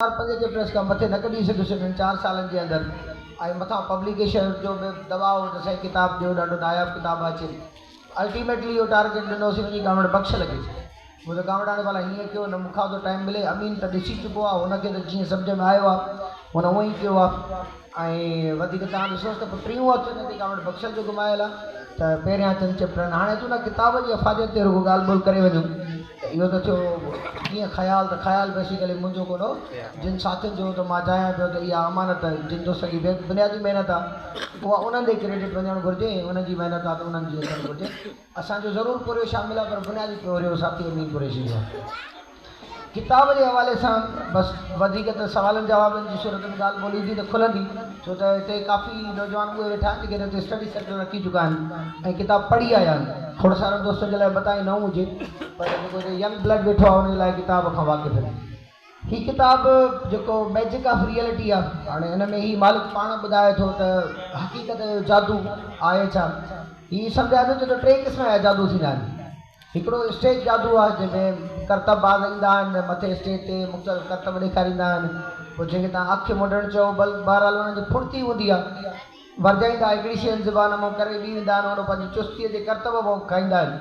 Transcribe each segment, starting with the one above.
چار پنج جي پريس کان مٿي نه ڪڍي سگهيس انهن چار سالن جي اندر ۽ مٿان پبليڪيشر جو به دٻاء هو ته سائين ڪتاب ڏيو ڏاڍو ناياب ڪتاب اچين الٽيميٽلي اهو ٽارگيٽ ڏنوسين وڃي ڳامڙ بخش لڳي مون ته ڳامڙاڻي ڀلا هيئن ڪيو نه مون کان ٿو ٽائيم ملي امين ته ڏسي چڪو آهي هن کي ته جيئن سمجهه ۾ آيو آهي هن هونء ئي ڪيو آهي ۽ وڌيڪ تان ڏسوس ته پوء ٽيون هٿ هن تي ڳامڙ بخشل جو گهمايل آهي ته پهريان چند چيپٽرن هاڻي اچون ٿا ڪتاب جي افاديت تي رڳو ڳالهه ٻولهه ڪري وڃون. اهو ته ٿيو ڪيئن خيال ته خيال بيسيڪلي منهنجو ڪونه جن ساٿين جو ته مان چاهيان پيو ته اها امانت جن جو سڄي بنيادي محنت آهي اها انهن ڏي ڪريڊٽ وڃڻ گهرجي ۽ انهن جي محنت آهي ته انهن جي اچڻ گهرجي اسان جو ضرور پورهيو شامل آهي پر بنيادي پورهيو ساٿي امين قريشي جو آهي ڪتاب جي حوالي سان بس وڌيڪ ته سوالن جوابن جي صورت ۾ ڳالهه ٻولهه ايندي ته کلندي ڇو ته هتي ڪافي نوجوان اهي ويٺا آهن جيڪي هتي اسٽڊي سينٽر رکي چڪا آهن ۽ ڪتاب پڙهي آيا آهن. کوڙ سارن دوستن جي لاء متاهي نئون هجي پر جيڪو هتي ينگ بلڊ ويٺو آهي ان جي لاء ڪتاب کان واقف آهن. هي ڪتاب جيڪو ميجڪ آف ريئلٽي آهي هاڻي ان ۾ هي مالڪ پاڻ ٻڌائي ٿو ته حقيقت جو جادو آهي ڇا؟ هي سمجهائي ٿو ڇو ته ٽي قسم جا جادو ٿيندا آهن. هڪڙو اسٽيج جادو آهي جنهن ۾ ڪرتب باز ايندا آهن مٿي اسٽيج تي مختلف ڪرتب ڏيکاريندا آهن پوء جنهن کي توهان اک مونڊڻ چئو بهرحال انهن جي ڦڙتي هوندي آهي ورجائيندا هڪڙي شين زبان منهن ڪري ٻي ويندا آهن هونڏو پنهنجي چستي جي ڪرتب منهن ڪائيندا آهن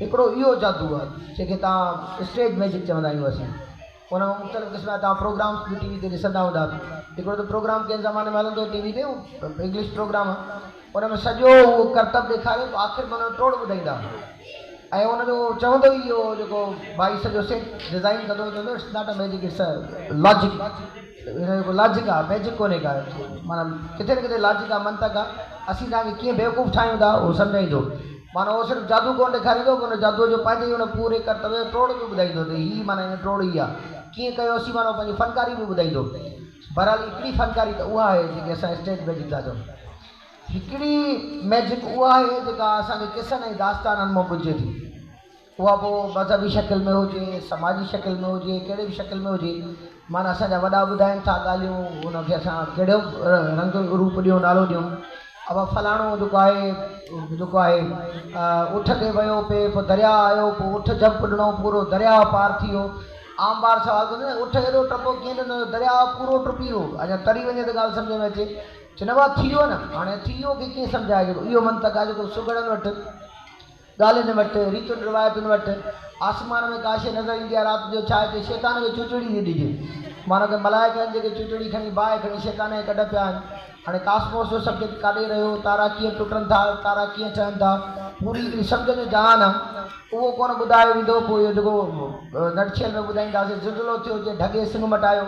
هڪڙو اهو جادو آهي جنهن کي توهان اسٽيج ميجڪ چوندا آهيون اسين. هن مختلف قسم جا تان پروگرامس به ٽي وي تي ڏسندا هوندا. هڪڙو ته پروگرام ڪنهن زماني ۾ هلندو هو ٽي وي تي اهو انگلش پروگرام ان ۾ سڄو اهو ڪرتب ڏيکاري پوء آخر ۾ ان جو ٽوڙ ٻڌائيندا ۽ ان جو چوندو ئي اهو هو جيڪو ڀائي سڄو سيٽ ڊزائين ڪندو هو چوندو هو it's not a magic it's a logic. هن جو ڪو لاجڪ آ ميجڪ ڪونهي ڪا معنيٰ ڪٿي نه ڪٿي لاجڪ آ منطق آ اسين توهان کي ڪيئن بيوقوف ٺاهيون ٿا هو سمجهائيندو معنيٰ هو صرف جادو ڪونه ڏيکاريندو پر ان جادوء جو پنهنجي ئي ان پوري ڪرتب جو ٽوڙ به ٻڌائيندو ته هي معنيٰ هن ٽوڙ هي آ ڪيئن ڪيو اسين معنيٰ هو پنهنجي فنڪاري به ٻڌائيندو بهرحال هڪڙي فنڪاري ته اها آهي جيڪي اسان اسٽيج ميجڪ ٿا چئون هڪڙي ميجڪ اها آهي جيڪا اسان کي قصن ۽ داستانن مان ٻڌجي ٿي. اها پوء مذهبي شڪل ۾ هجي، سماجي شڪل ۾ هجي، ڪهڙي به شڪل ۾ هجي، معنيٰ اسان جا وڏا ٻڌائين ٿا ڳالهيون، ان کي اسان ڪهڙو به رنگ روپ ڏيون، نالو ڏيون. اهو فلاڻو جيڪو آهي، جيڪو آهي، اٺ تي ويو، پي، پوء درياهه آيو، پوء اٺ جمپ ڏنو، پورو درياهه پار ٿي ويو. عام ٻار سوال ڪندو نه، اٺ ايڏو ٽپو ڪيئن ڏنو جو درياهه پورو ٽپي ويو؟ اڃا تري وڃي ته ڳالهه سمجهه ۾ اچي. چئنو آهي ٿي ويو نه، هاڻي ٿي ويو کي ڪيئن سمجهائجي؟ اهو منطق آهي جيڪو سگهڙن وٽ. ڳالهين وٽ، ريتن روايتن وٽ، آسمان ۾ ڪا شيء نظر ايندي آهي رات جو ڇا هتي شيطان کي چوچڙي ٿي ڏجي؟ مانو ڪنهن ملائڪ آهن جيڪي چوچڙي کڻي باهه کڻي شيطان کي ڪڍ پيا آهن. هاڻي ڪاسموس جو سبجيڪٽ ڪاڏي رهيو، تارا ڪيئن ٽٽن ٿا، تارا ڪيئن ٺهن ٿا، پوري هڪڙي سمجهه جو جهان آهي. اهو ڪونه ٻڌايو ويندو، پوء اهو جيڪو نٽشيل ۾ ٻڌائينداسين، زلزلو ٿيو جنهن ڍڳي سنگ مٽايو.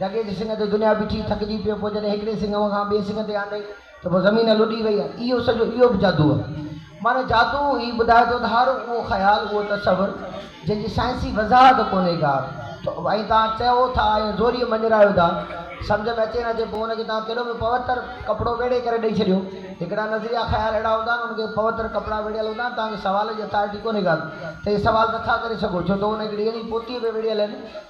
جڳي جي سڱ تي دنيا بيٺي ٿڪجي پيو پوء جڏهن هڪڙي سڱ وانگان ٻئي سڱ تي آندئي ته پوء زمين لڏي وئي آهي اهو سڄو اهو به جادو آهي معنيٰ جادو هي ٻڌائي ٿو ته هر اهو خيال اهو تصور جنهن جي سائنسي وضاحت ڪونهي ڪا ته ۽ توهان چئو ٿا ۽ زوريء مڃرايو ٿا سمجهه ۾ اچي نه اچي پوء ان کي توهان ڪيڏو به پوتر ڪپڙو ويڙهي ڪري ڏئي ڇڏيو هڪڙا نظريا خيال اهڙا هوندا آهن انهن کي پوتر ڪپڙا ويڙهيل هوندا آهن توهان کي سوال جي اٿارٽي ڪونهي ڪا ته اهي سوال نه ٿا ڪري سگهو ڇو ته ان هڪڙي اهڙي پوتيء ۾ ويڙهيل آهن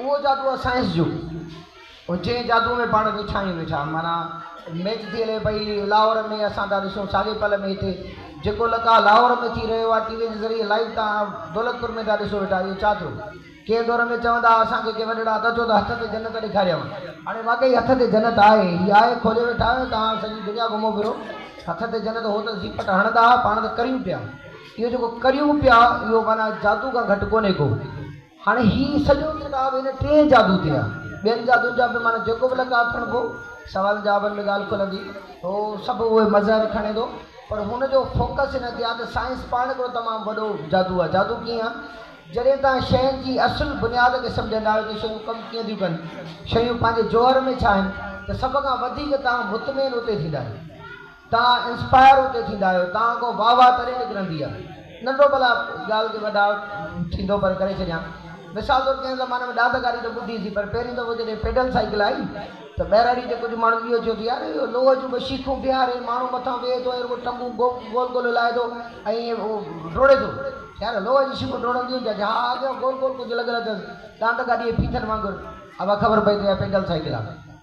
اهو جادو آهي سائنس جو جنهن جادو ۾ پاڻ ويٺاهيون ويٺا معنيٰ ميچ ٿي هلي پئي لاهور ۾ اسان ٿا ڏسون ساڳي پل ۾ هتي جيڪو لقاء لاهور ۾ ٿي رهيو آهي ٽي وي جي ذريعي لائيو تان دولتپور ۾ ٿا ڏسو ويٺا اهو ڇا ٿيو ڪنهن دور ۾ چوندا هئا اسان کي ڪي وڏڙا ته چئو ته هٿ تي جنت ڏيکاريانء هاڻي واقعي هٿ تي جنت آهي هي آهي کولي ويٺا آهيو توهان سڄي دنيا گهمو ڦرو هٿ تي جنت هو ته زيپٽ هڻندا هئا پاڻ ته ڪريون پيا اهو جيڪو ڪريون پيا اهو معنيٰ جادو کان گهٽ ڪونهي ڪو. هاڻي هي سڄو ڪتاب ان ٽئين جادو تي آ. ٻين جادون جا به معنيٰ جيڪو به لقاء کڻبو، سوالن جوابن ۾ ڳالهه کلندي، هو سڀ اهي مظهر کڻي ٿو. پر هن جو فوڪس ان تي آ ته سائنس پاڻ هڪڙو تمام وڏو جادو آ. جادو ڪيئن؟ جڏهن توهان شين جي اصل بنياد کي سمجهندا آهيو ته شيون ڪم ڪيئن ٿيون ڪن، شيون پنهنجي جوهر ۾ ڇا آهن، ته سڀ کان وڌيڪ توهان مطمئن اتي ٿيندا آهيو. توهان انسپائر اتي ٿيندا آهيو توهان کان واهه واهه تڏهن نڪرندي آهي ننڍو ڀلا ڳالهه کي وڏا ٿيندو پر ڪري ڇڏيان مثال طور ڪنهن زماني ۾ ڏات ڪاري ته ٻڌي سي پر پهريون دفعو جڏهن پيڊل سائيڪل آئي ته ٻهراڙي جي ڪجهه ماڻهن اهو چيو ته يار اهو لوهه جون ٻه شيخون بيهاري ماڻهو مٿان ويهي ٿو ۽ رڳو ٽنگون گول گول هلائي ٿو ۽ ائين ڊوڙي ٿو يار لوهه جون شيخون ڊوڙنديون هونديون آهن ها اڳيان گول گول ڪجهه لڳل اٿس ڏانت گاڏي جي ڦيٿن وانگر اها خبر پئي ته اها پيڊل سائيڪل آهي.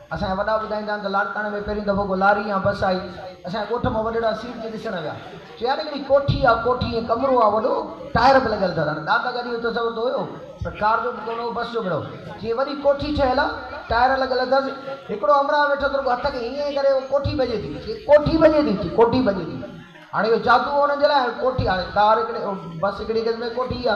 اسان جا وڏا ٻڌائيندا آهن ته لاڙڪاڻي ۾ پهريون دفعو ڪو لاري يا بس آئي، اسان جي ڳوٺ مان وڏڙا سيٽ تي ڏسڻ ويا. چيائين هڪڙي ڪوٺي آ، ڪوٺي ائين ڪمرو آ وڏو، ٽائر به لڳل اٿس. هاڻي دادا گاڏيء جو تصور ته هيو، پر ڪار جو به ڪونه هو، بس جو به نه هو. چيائين وڏي ڪوٺي ٺهيل آ، ٽائر لڳل اٿس. هڪڙو همراهه ويٺو اٿس، رڳو هٿ کي هيئن هيئن ڪري، اهو ڪوٺي ڀڄي ٿي. چيائين ڪوٺي ڀڄي ٿي؟ چيائين ڪوٺي ڀڄي ٿي. هاڻي اهو جادو هو انهن جي لاء. هاڻي ڪوٺي، هاڻي ڪار هڪڙي، بس هڪڙي قسم جي ڪوٺي آ.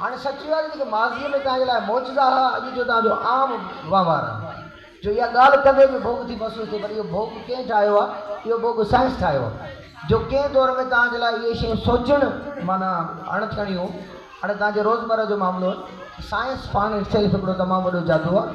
هاڻي سچ اها آهي ته جيڪي ماضيء ۾ توهان جي لاء معجزا هئا، اڄ جو توهان جو عام وهنوار آهن. جو اها ڳالهه ڪندي به ڀوڳ ٿي محسوس ٿئي پر اهو ڀوڳ ڪنهن ٺاهيو آهي؟ اهو ڀوڳ سائنس ٺاهيو آهي. جو ڪنهن دور ۾ توهان جي لاء اهي شيون سوچڻ معنيٰ اڻ ٿيڻيون هيون، هاڻي توهان جي روزمره جو معاملو آهن. سائنس پاڻ اٽسيلف هڪڙو تمام وڏو جادو آهي.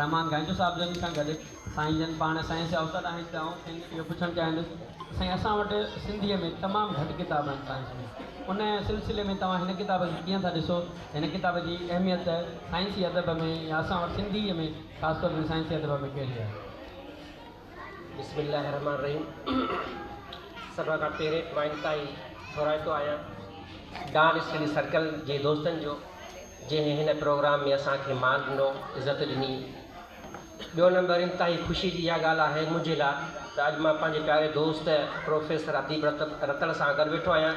رحمان گائيندو صاحب جن سان گڏ سائين جن پاڻ سائنس جا استاد آهن ته آئون کين اهو پڇڻ چاهيندس ته سائين اسان وٽ سنڌيء ۾ تمام گهٽ ڪتاب آهن سائنس جا ان سلسلي ۾ توهان هن ڪتاب کي ڪيئن ٿا ڏسو هن ڪتاب جي اهميت سائنسي ادب ۾ يا اسان وٽ سنڌيء ۾ خاص طور تي سائنسي ادب ۾ ڪهڙي آهي؟ بسم الله الرحمٰن الرحيم سڀ کان پهرين پوائنٽ تان ئي ٿورائتو آهيان ڊان اسٽڊي سرڪل جي دوستن جو جنهن هن پروگرام ۾ اسان کي مان ڏنو عزت ڏني ٻيو نمبر انتهائي خوشي جي اها ڳالهه آهي منهنجي لاء ته اڄ مان پنهنجي پياري دوست پروفيسر اديب رت رتن سان گڏ ويٺو آهيان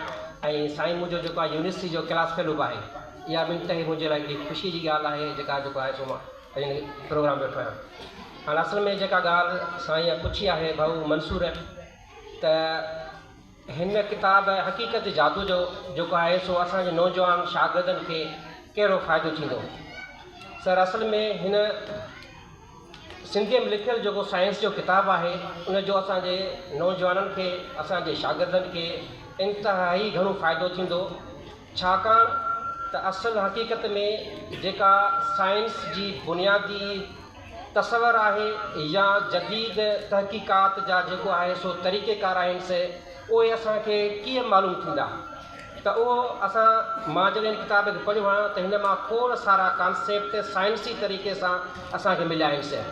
۽ سائين منهنجو جيڪو آهي يونيورسٽي جو ڪلاس فيلوپ آهي اها به انتهائي منهنجي لاء هڪڙي خوشي جي ڳالهه آهي جيڪا جيڪو آهي سو مان ان پروگرام ويٺو آهيان هاڻ اصل ۾ جيڪا ڳالهه سائين پڇي آهي ڀائو منصور ته هن ڪتاب حقيقت جادو جو جيڪو آهي سو اسانجي نوجوان شاگردن کي ڪهڙو فائدو ٿيندو سر اصل ۾ هن سنڌيء ۾ لکيل جيڪو سائنس جو ڪتاب آهي ان جو اسانجي نوجوانن کي اسانجي شاگردن کي انتهائي گهڻو فائدو ٿيندو ڇاڪاڻ ته اصل حقيقت ۾ جيڪا سائنس جي بنيادي تصور آهي يا جديد تحقيقات جا جيڪو آهي سو طريقه ڪار آهن سي اهي اسان کي ڪيئن معلوم ٿيندا ته اهو اسان مان جڏهن هن ڪتاب کي پڙهيو آهيان ته هن مان کوڙ سارا ڪانسيپٽ سائنسي طريقي سان اسان کي مليا آهن سي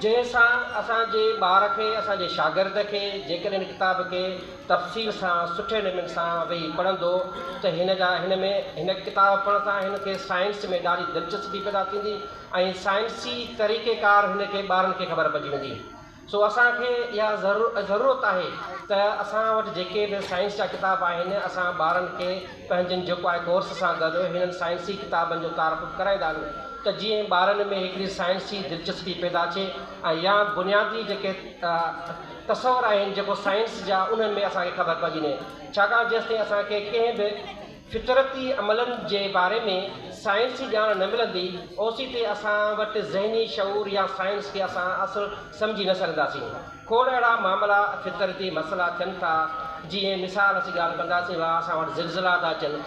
جنهن سان اسان جي ٻار کي اسان جي شاگرد کي جيڪڏهن هن ڪتاب کي تفصيل سان سٺي نمن سان ويهي پڙهندو ته هن جا هن ۾ هن ڪتاب پڙهڻ سان هن کي سائنس ۾ ڏاڍي دلچسپي پيدا ٿيندي ۽ سائنسي طريقي ڪار هن کي ٻارن کي خبر پئجي ويندي سو اسان کي اها ضرورت آهي ته اسان وٽ جيڪي به سائنس جا ڪتاب آهن اسان ٻارن کي پنهنجن جيڪو آهي ڪورس سان گڏ هنن سائنسي ڪتابن جو تعارف به ڪرائيندا آهيون ته جيئن ٻارن ۾ هڪڙي سائنسي دلچسپي پيدا ٿئي ۽ يا بنيادي جيڪي تصور آهن جيڪو سائنس جا انهن ۾ اسان کي خبر پئجي نهي ڇاڪاڻ جيستائين اسان کي ڪنهن به فطرتي عملن جي باري ۾ سائنسي ڄاڻ نه ملندي اوسيتي اسان وٽ ذهني شعور يا سائنس کي اسان اصل سمجهي نه سگهنداسين کوڙ اهڙا معاملا فطرتي مسئلا ٿين ٿا جيئن مثال اسين ڳالهه ڪنداسين ڀا اسان وٽ زلزلا ٿا اچن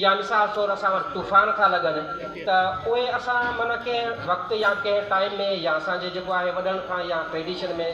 يا مثال طور اسان وٽ طوفان ٿا لڳن ته اهي اسان معنيٰ ڪنهن وقت يا ڪنهن ٽائيم ۾ يا اسان جي جيڪو آهي وڏن کان يا ٽريڊيشن ۾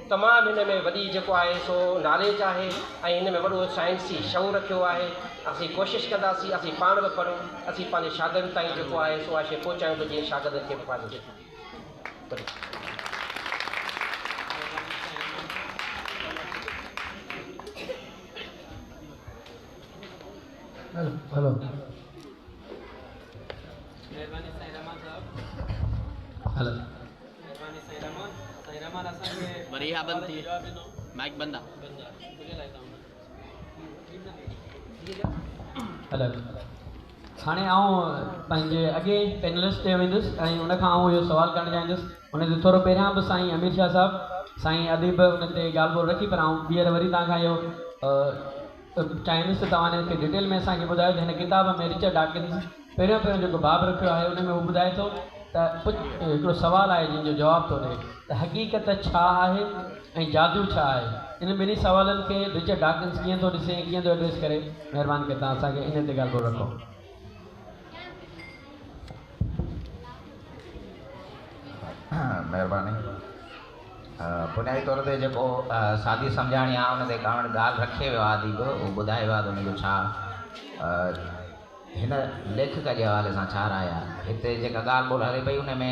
تمام هن ۾ وڏي جيڪو آهي سو ناليج آهي ۽ هن ۾ وڏو سائنسي شعور رکيو آهي اسين ڪوشش ڪنداسين اسين پاڻ به پڙهون اسين پنهنجي شاگردن تائين جيڪو آهي سو اها شيء پهچايون ته جيئن شاگردن کي به فائدو ٿئي Hello. Hello. مھرباني سائين رحمان سائين رحمان اسان کي وري ها بند ٿي جواب ڏنو مائڪ بند آ بند آ تنهنجي لاء ٿا هلو هاڻي آئون پنهنجي اڳي پينلسٽ تي ويندس ۽ ان کان آئون اهو سوال ڪرڻ چاهيندس ان تي ٿورو پهريان به سائين امير شاهه صاحب سائين اديب ان تي ڳالهه ٻولهه رکي پر آئون ٻيهر وري توهان کان اهو چاهيندس ته توهان هتي ڊيٽيل ۾ اسان کي ٻڌايو ته هن ڪتاب ۾ رچرڊ ڊاڪنز پهريون پهريون جيڪو باب رکيو آهي ان ۾ هو ٻڌائي ٿو ته ڪجهه هڪڙو سوال آهي جنهن جو جواب ٿو ڏئي ته حقيقت ڇا آهي ۽ جادو ڇا آهي انهن ٻنهي سوالن کي رچرڊ ڊاڪنز ڪيئن ٿو ڏسي ۽ ڪيئن ٿو ايڊريس ڪري مهرباني ڪري توهان اسان کي ان تي ڳالهه ٻولهه رکو. مھرباني بنيادي طور تي جيڪو سادي سمجھاڻي آ ان تي ڪاوڙ ڳالھ رکي ويو آ اديب ھو ٻڌائي ويو آ تھ ان جو ڇا ھن ليکڪ جي حوالي سان ڇا راء آ ھتي جيڪا ڳالھ ٻولھ ھلي پئي ان ۾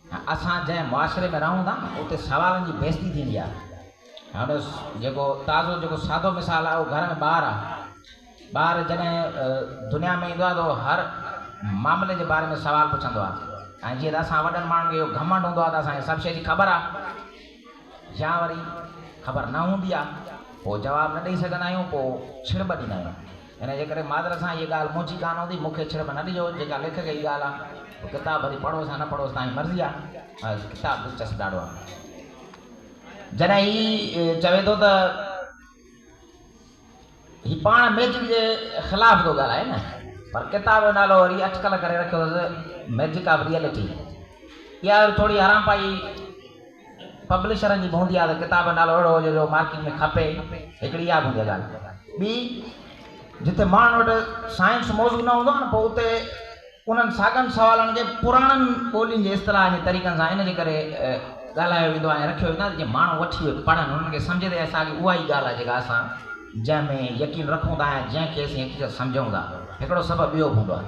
اسان جنهن معاشري ۾ رهون ٿا اتي سوالن جي بيستي ٿيندي آهي هاڻ جيڪو تازو جيڪو سادو مثال آهي اهو گهر ۾ ٻار آهي ٻار جڏهن دنيا ۾ ايندو آهي ته هر معاملي جي باري ۾ سوال پڇندو آهي ۽ جيئن ته اسان وڏن ماڻهن کي اهو گهمنڊ هوندو آهي ته اسان کي سڀ شي جي خبر آهي يا وري خبر نه هوندي آهي پوء جواب نه ڏئي سگهندا آهيون پوء ڇڙٻ ڏيندا آهيون ان جي ڪري معذرت سان هيء ڳالهه مونجهي ڪانه هوندي، مون کي ڇڙٻ نه ڏجو، جيڪا ليکڪ جي ڳالهه آ، پوء ڪتاب وري پڙهوس يا نه پڙهوس توهان جي مرضي آ، مگر ڪتاب دلچسپ ڏاڍو آ. جڏهن هي چوي ٿو ته هي پاڻ ميجڪ جي خلاف ٿو ڳالهائي نه، پر ڪتاب جو نالو وري اٽڪل ڪري رکيو اٿس ميجڪ آف ريئلٽي، اها ٿوري حرامپائي، پبلشرن جي به هوندي آهي ته ڪتاب جو نالو اهڙو هجي جو مارڪيٽ ۾ کپي، هڪڙي اها به هوندي آهي ڳالهه. ٻي جتي ماڻهن وٽ سائنس موضوع نه هوندو آهي نه پوء اتي انهن ساڳن سوالن کي پراڻن ٻولين جي اصطلاحن جي طريقن سان ان جي ڪري ڳالهايو ويندو آهي ۽ رکيو ويندو آهي ته جيئن ماڻهو وٺي اهي پڙهن انهن کي سمجهه تي ساڳي اها ئي ڳالهه آهي جيڪا اسان جنهن ۾ يقين رکون ٿا ۽ جنهن کي اسين حقيقت سمجهون ٿا. هڪڙو سبب اهو به هوندو آهي.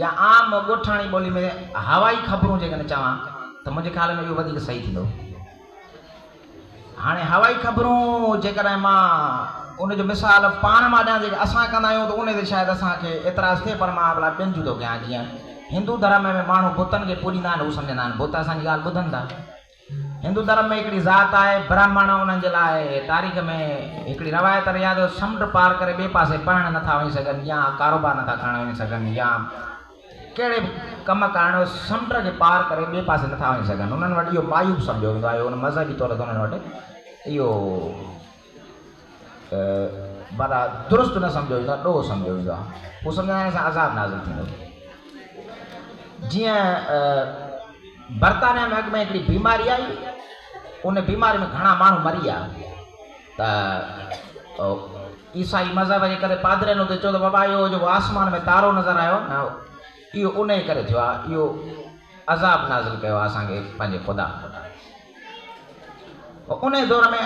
يا عام ڳوٺاڻي ٻولي ۾ هوائي خبرون جيڪڏهن چوان ته منهنجي خيال ۾ اهو وڌيڪ صحيح ٿيندو. هاڻي هوائي خبرون جيڪڏهن مان ان جو مثال پاڻ مان ڏيان جيڪي اسان ڪندا آهيون ته ان تي شايد اسان کي اعتراض ٿئي پر مان ڀلا ٻين جون ٿو ڪيان جيئن هندو ڌرم ۾ ماڻهو بتن کي پوڄيندا آهن هو سمجهندا آهن بت اسان جي ڳالهه ٻڌن ٿا. هندو ڌرم ۾ هڪڙي ذات آهي برهمڻ انهن جي لاء تاريخ ۾ هڪڙي روايت رهي آهي ته سمنڊ پار ڪري ٻئي پاسي پڙهڻ نه ٿا وڃي سگهن يا ڪاروبار نه ٿا ڪرڻ وڃي سگهن يا ڪهڙي به ڪم ڪرڻ هو سمنڊ کي پار ڪري ٻئي پاسي نه ٿا وڃي سگهن انهن وٽ اهو معيوب سمجهيو ويندو آهي ان مذهبي طور تي انهن وٽ اهو ڀلا درست نه سمجهيو ويندو آهي، ڏوهه سمجهيو ويندو آهي. هو سمجهندا آهن اسان عذاب نازل ٿيندو. جيئن برطانيا ۾ اڳ ۾ هڪڙي بيماري آئي، ان بيماري ۾ گهڻا ماڻهو مري ويا ته عيسائي مذهب جي ڪري پادرين اتي چيو ته بابا اهو جيڪو آسمان ۾ تارو نظر آيو نه اهو انهي ڪري ٿيو آهي، اهو عذاب نازل ڪيو آهي اسان کي پنهنجي خدا. انهيء دور ۾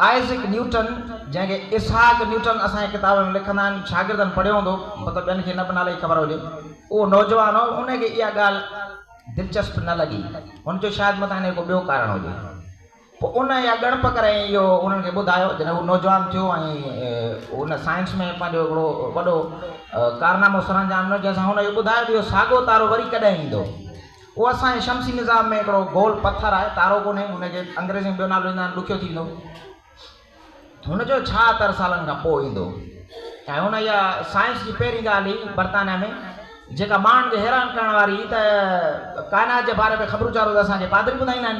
آئزڪ نيوٽن، جنهن کي اسحاق نيوٽن اسان جي ڪتابن ۾ لکندڙن شاگردن پڙهيو هوندو، مطلب ٻين کي نه به نالي جي خبر هجي، اهو نوجوان هو، انهيء کي اها ڳالهه دلچسپ نه لڳي. هن چيو شايد متان هن جو ڪو ٻيو ڪارڻ هجي. پوء ان اها ڳڻپ ڪري ۽ اهو انهن کي ٻڌايو، جڏهن هو نوجوان ٿيو ۽ هن سائنس ۾ پنهنجو هڪڙو وڏو ڪارنامو سرانجام ڏنو، جنهن سان هن اهو ٻڌايو ته اهو ساڳيو تارو وري ڪڏهن ايندو. اهو اسان جي شمسي نظام ۾ هڪڙو گول پٿر آهي، تارو ڪونهي، ان کي انگريزيء ۾ ٻيو نالو ڏيندو آهن، ڏکيو ٿي ويندو. هن چيو، ڇا تر سالن کان پوء ايندو؟ ۽ هن اها سائنس جي پهرين ڳالهه هئي برطانيا ۾، جيڪا ماڻهن کي حيران ڪرڻ واري هئي ته ڪائنات جي باري ۾ خبرون چارون ته اسان کي پادري ٻڌائيندا آهن.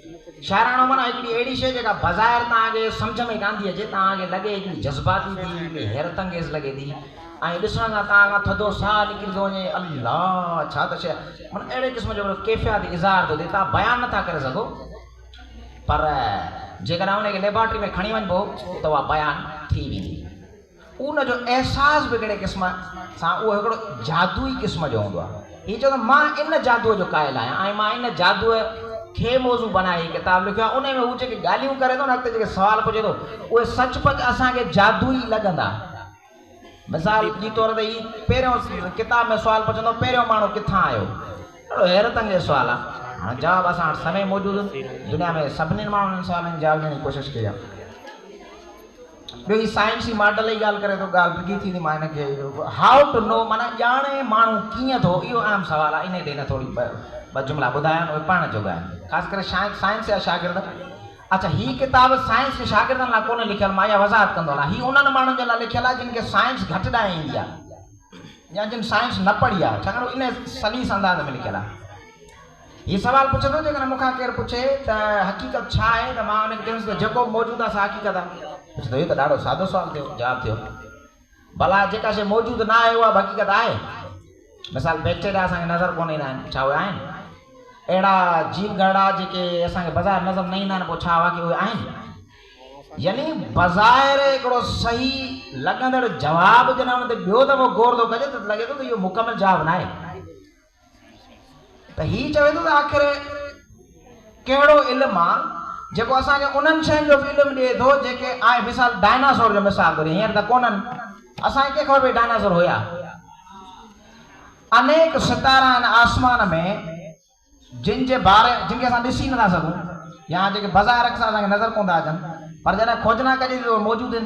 شاعراڻو معنيٰ هڪڙي اهڙي شيء جيڪا بظاهر توهان کي سمجهه ۾ ڪانه ٿي اچي، توهان کي لڳي هڪڙي جذباتي ٿي، هڪڙي حيرت انگيز لڳي ٿي ۽ ڏسڻ سان توهان کان ٿڌو ساهه نڪري ٿو وڃي، الله! ڇا ته شيء آهي. معنيٰ اهڙي قسم جو هڪڙو ڪيفياتي اظهار ٿو ٿئي، توهان بيان نٿا ڪري سگهو پر جيڪڏهن ان کي ليبارٽري ۾ کڻي وڃبو ته اها بيان ٿي ويندي. ان جو احساس به ڪهڙي قسم سان اهو هڪڙو جادوئي قسم جو هوندو آهي. هي چوندو آهي مان ان جادوء جو قائل آهيان ۽ مان ان جادوء کي موضوع بنائي هي ڪتاب لکيو آهي. انهي ۾ هو جيڪي ڳالهيون ڪري ٿو نه اڳتي جيڪي سوال پڇي ٿو اهي سچ پچ اسان کي جادوئي لڳندا. مثال جي طور تي هي پهريون ڪتاب ۾ سوال پڇندو پهريون ماڻهو ڪٿان آيو؟ ڪهڙو حيرت انگيز سوال آهي. هاڻ جواب اسان وٽ سوين موجود آهن. دنيا ۾ سڀني ماڻهن انهن سوالن جي جواب ڏيڻ جي ڪوشش ڪئي آهي. ٻيو هي سائنس جي ماڊل جي ڳالهه ڪري ٿو ڳالهه ڊگهي ٿيندي مان هن کي هائو ٽو نو معنيٰ ڄاڻي ماڻهو ڪيئن ٿو اهو اهم سوال آهي انهي تي هن ٿوري ٻه جملا ٻڌايا آهن اهي پڙهڻ جوڳا آهن خاص ڪري شايد سائنس جا شاگرد اڇا هي ڪتاب سائنس جي شاگردن لاء ڪونهي لکيل مان اها وضاحت ڪندو هلان هي انهن ماڻهن جي لاء لکيل آهي جن کي سائنس گهٽ ڏانهن ايندي آهي يا جن سائنس نه پڙهي آهي ڇاڪاڻ ان سليس انداز ۾ لکيل آهي هي سوال پڇي ٿو، جيڪڏهن مون کان ڪير پڇي ته حقيقت ڇا آهي ته مان ان کي چوندس ته جيڪو به موجود آهي سا حقيقت آهي. پڇي ٿو، اهو ته ڏاڍو سادو سوال ٿيو، جواب ٿيو. ڀلا جيڪا شيء موجود نه آهي اها به حقيقت آهي؟ مثال بيڪٽيريا اسان کي نظر ڪونه ايندا آهن، ڇا اهي آهن؟ اهڙا جيو گهرڙا جيڪي اسان کي بظاهر نظر نه ايندا آهن پوء ڇا واقعي اهي آهن؟ يعني بظاهر هڪڙو صحيح لڳندڙ جواب جڏهن ان تي ٻيو دفعو غور ٿو ڪجي ته لڳي ٿو ته اهو مڪمل جواب نه آهي. ته هي چوي ٿو ته آخر ڪهڙو علم آ جيڪو اسان کي انهن شين جو به علم ڏئي ٿو جيڪي آء مثال ڊائناسور جو مثال ٿو ڏيان هينئر ته ڪونهن اسان کي ڪيئن خبر پئي ڊائناسور هيا انيڪ ستارا آهن آسمان ۾ جن جي باري جن کي اسان ڏسي نٿا سگهون يا جيڪي بظاهر اڪثر اسان کي نظر ڪونه ٿا اچن پر جڏهن کوجنا ڪجي ٿي ته موجود آهن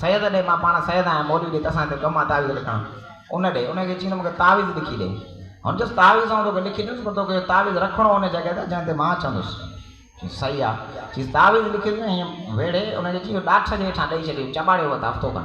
سيد ڏي، مان پاڻ سيد آهيان، مولوي ڏي، تسان هتي ڪم آ تعويذ لکڻ؟ ان ڏي، ان کي چينده مون کي تعويذ لکي ڏي. هن چيس تعويذ آئون توکي لکي ڏيندس پر توکي اهو تعويذ رکڻو ان جڳهه تي جنهن تي مان اچان ٿوس. چيس صحيح آ. چيس تعويذ لکي ڏي ۽ هيئن ويڙهي ان کي چيس اهو ڏاٺ جي هيٺان ڏئي ڇڏي، چٻاڙي وت هفتو کن.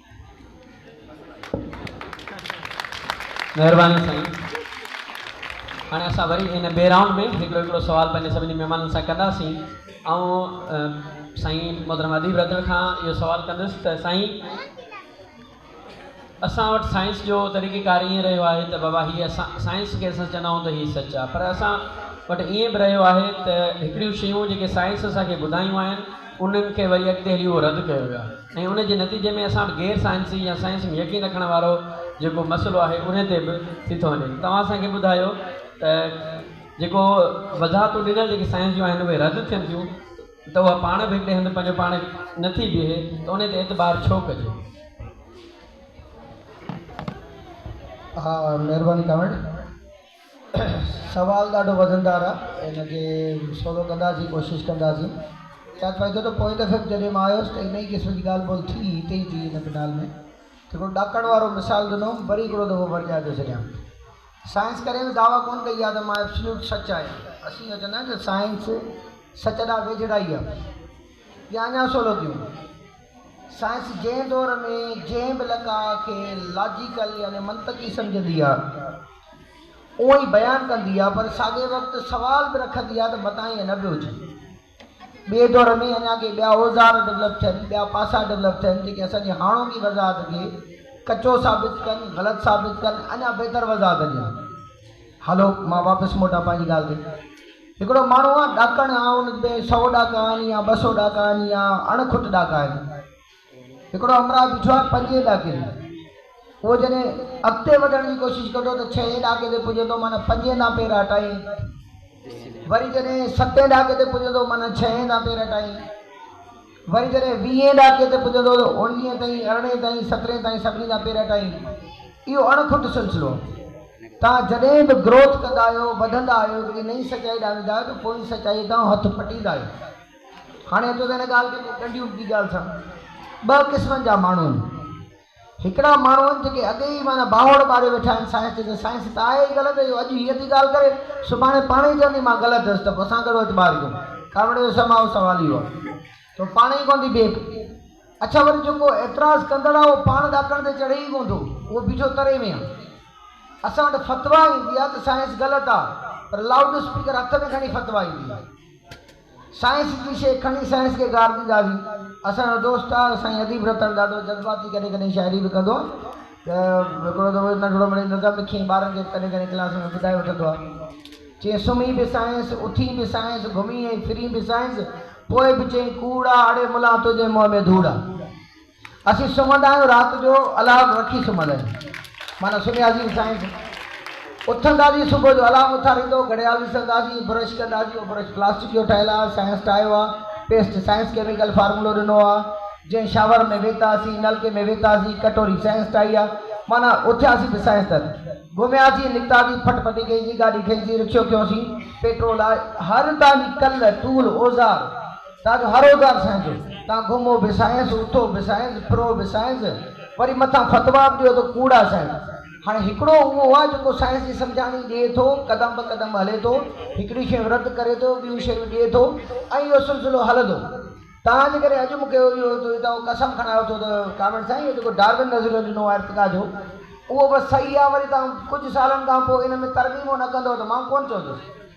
مهرباني سائين هاڻي اسان وري ان ٻئي رائونڊ ۾ هڪڙو هڪڙو سوال پنهنجي سڀني مهمانن سان ڪنداسين آئون سائين محترم اديب رڌڻ کان اهو سوال ڪندس ته سائين اسان وٽ سائنس جو طريقي ڪار ائين رهيو آهي ته بابا هي اسان سائنس کي اسان چوندا آهيون ته هي سچ آهي پر اسان وٽ ائين به رهيو آهي ته هڪڙيون شيون جيڪي سائنس اسان کي ٻڌايون آهن انهن کي وري اڳتي هلي اهو رد ڪيو ويو آهي ۽ ان جي نتيجي ۾ اسان وٽ غير سائنسي يا سائنس ۾ يقين رکڻ وارو جيڪو مسئلو آهي ان تي به ٿي ٿو وڃي توهان اسان کي ٻڌايو ته جيڪو وضاحتون ڏنل جيڪي سائنس جون آهن اهي رد ٿين ٿيون ته اها پاڻ به هڪڙي هنڌ پنهنجو پاڻ نٿي بيهي ته ان تي اعتبار ڇو ڪجي؟ ها مهرباني ڪامينٽ. سوال ڏاڍو وزندار آ ان کي سولو ڪنداسين ڪوشش ڪنداسين ياد پائي ٿو ته پوئين دفعي به جڏهن مان آيس ته انهي قسم جي ڳالهه ٻولهه ٿي هتي ئي ٿي هن پنڊال ۾ هڪڙو ڏاڪڻ وارو مثال ڏنو هوم وري هڪڙو دفعو ورجائي ٿو ڇڏيان سائنس ڪڏهن به دعويٰ ڪون ڪئي آ ته مان ابسليوٽ سچ آهيان اسين اهو چوندا آهيون ته سائنس سچ ڏانهن ويجهڙائي آ ڄاڃا سولنديون. سائنس جنهن دور ۾ جنهن به لقاء کي لاجيڪل يعني منطقي سمجهندي آ اونء ئي بيان ڪندي آ پر ساڳئي وقت سوال به رکندي آ ته متان ائين نه به هجي. ٻئي دور ۾ اڃا ڪي ٻيا اوزار ڊولپ ٿين، ٻيا پاسا ڊولپ ٿين جيڪي اسان جي هاڻوڪي وضاحت کي ڪچو ثابت ڪن، غلط ثابت ڪن، اڃا بهتر وضاحت ڏين. هلو مان واپس موٽان پنهنجي ڳالهه تي. هڪڙو ماڻهو آ ڏاڪڻ آ ان ۾ سئو ڏاڪا آهن يا ٻه سئو ڏاڪا آهن يا اڻ کٽ ڏاڪا آهن هڪڙو همراهه بيٺو آهي پنجين ڏاڪي تي اهو جڏهن اڳتي وڌڻ جي ڪوشش ڪندو ته ڇهين ڏاڪي تي پڄندو معنيٰ پنجين تان پير هٽائين وري جڏهن ستين ڏاڪي تي پڄندو معنيٰ ڇهين تان پير هٽائين. وري جڏهن ويهين ڏهاڪي تي پڄندو ته اڻويهين تائين، ارڙهين تائين، سترهين تائين سڀني جا پير اٽائين. اهو اڻ کٽ سلسلو. توهان جڏهن به گروٿ ڪندا آهيو، وڌندا آهيو، هڪڙي نئين سچائي ڏانهن ويندا آهيو ته پوئين سچائيء تان هٿ پٽيندا آهيو. هاڻي اچو ته هن ڳالهه کي ڪنهن ڏنڊي اٻڪي ڳالهه سان ٻه قسمن جا ماڻهو آهن. هڪڙا ماڻهو آهن جيڪي اڳي ئي معنيٰ باهوڙ ٻاريو ويٺا آهن سائنس چئي ته سائنس ته آهي ئي غلط اهو اڄ هيء ٿي ڳالهه ڪري سڀاڻي پاڻ ئي چوندي مان غلط هيس ته پوء اسان ڪهڙو اعتبار ڪيون ڪاوڙي جو سماء سوال اهو آهي ته هو پاڻ ئي ڪونه ٿي بيهي پئي اڇا وري جيڪو اعتراض ڪندڙ آهي اهو پاڻ ڏاڪڻ تي چڙهي ئي ڪونه ٿو اهو بيٺو تري ۾ آهي اسان وٽ فتويٰ ايندي آهي ته سائنس غلط آهي پر لائوڊ اسپيڪر هٿ ۾ کڻي فتويٰ ايندي آهي. سائنس جي شيء کڻي سائنس کي گار ڏينداسين. اسان جو دوست آ سائين اديب رتن ڏاڍو جذباتي ڪڏهن ڪڏهن شاعري به ڪندو آ ته هڪڙو دفعو ننڍڙو مڙئي نظم لکيائين ٻارن کي ڪڏهن ڪڏهن ڪلاس ۾ ٻڌائي وٺندو آ چيائين سمهين به سائنس اٿين به سائنس گهمين ۽ ڦرين به سائنس پوء به چئين ڪوڙ آ اڙي ملان تنهنجي منهن ۾ ڌوڙ آ. اسين سمهندا آهيون رات جو الارم رکي سمهندا آهيون معنيٰ سمهياسين سائنس اٿنداسين صبح جو الارم اٿاريندو گهڙيال ڏسنداسين برش ڪنداسين اهو برش پلاسٽڪ جو ٺهيل آهي سائنس ٺاهيو آهي پيسٽ سائنس ڪيميڪل فارمولو ڏنو آهي جنهن شاور ۾ ويهتاسين نلڪي ۾ ويهتاسين ڪٽوري سائنس ٺاهي آهي معنيٰ اٿياسين ته سائنس تر گهمياسين نڪتاسين ڦٽ ڦٽي ڪئيسين گاڏي کئيسين رڪشو کنيوسين پيٽرول آهي هر تان جي ڪل ٽول اوزار ڏاڍو هروزار سائين جو تان گهمو به سائينس اٿو به سائينس ڦرو به سائينس وري مٿان فتوا به ڏيو ته ڪوڙا سائينس هاڻي هڪڙو اهو آ جيڪو سائينس جي سمجهاڻي ڏئي ٿو قدم به قدم هلي ٿو هڪڙيون شيون رد ڪري ٿو ٻيون شيون ڏئي ٿو ۽ اهو سلسلو هلندو تان جي ڪري اڄ مونکي اهو اهو قسم کڻائي اٿو ته ڪامريڊ سائين اهو جيڪو ڊارون نظريو ڏنو آ ارتقا جو اهو بس صحيح آ وري تان ڪجهه سالن کان پوء ان ۾ ترميمون نه ڪندو ته مان ڪونه چوندس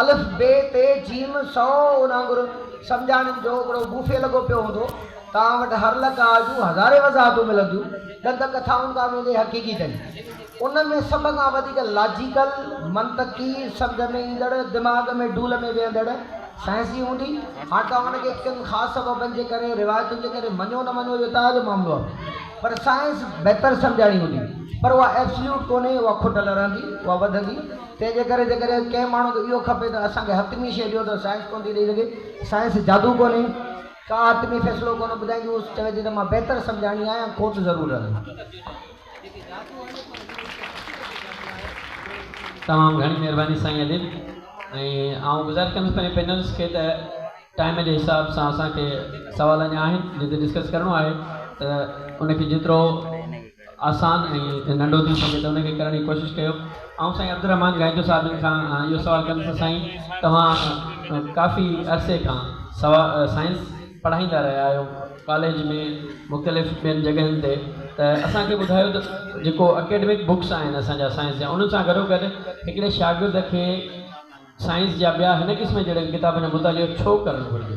الف، بي، ت، جيم، سؤ ان وانگر سمجهاڻين جو ابڙو بوفي لڳو پيو هوندو. توهان وٽ هر لقاء جون هزارين وضاحتون ملنديون، ڏند ڪٿائن کان ويندي حقيقي تائين. ان ۾ سڀ کان وڌيڪ لاجيڪل، منطقي، سمجهه ۾ ايندڙ، دماغ ۾ ڊول ۾ ويهندڙ سائنسي هوندي. هاڻ توهان ان کي ڪن خاص سببن جي ڪري، روايتن جي ڪري مڃو نه مڃو اهو توهان جو معاملو آهي. پر سائنس بهتر سمجهاڻي هوندي. پر اها ائبسليوٽ ڪونهي، اها کٽل رهندي، اها وڌندي. تنهن جي ڪري جيڪڏهن ڪنهن ماڻهو کي اهو کپي ته اسان کي حتمي شيء ڏيو ته سائنس ڪونه ٿي ڏئي سگهي. سائنس جادو ڪونهي. ڪا حتمي فيصلو ڪونه ٻڌائيندي. هو چوي ٿي ته مان بهتر سمجهاڻي آهيان ۽ کوٽ ضرور رهندي. تمام گهڻي مهرباني سائين اديب ۽ آئون گذارش ڪندس پنهنجي پينلسٽ کي ته ٽائيم جي حساب سان اسان کي سوال اڃا آهن جن تي ڊسڪس ڪرڻو آهي ته ان کي جيترو آسان ۽ ننڍو ٿي سگهي ته ان کي ڪرڻ جي ڪوشش ڪيو. آئون سائين عبدالرحمان گائيجو صاحب جن کان اهو سوال ڪندس ته سائين توهان ڪافي عرصي کان سائنس پڙهائيندا رهيا آهيو ڪاليج ۾ مختلف ٻين جڳهين تي ته اسان کي ٻڌايو ته جيڪو اڪيڊمڪ بڪس آهن اسان جا سائنس جا انهن سان گڏوگڏ هڪڙي شاگرد کي سائنس جا ٻيا هن قسم جهڙن ڪتابن جو مطالعو ڇو ڪرڻ گهرجي؟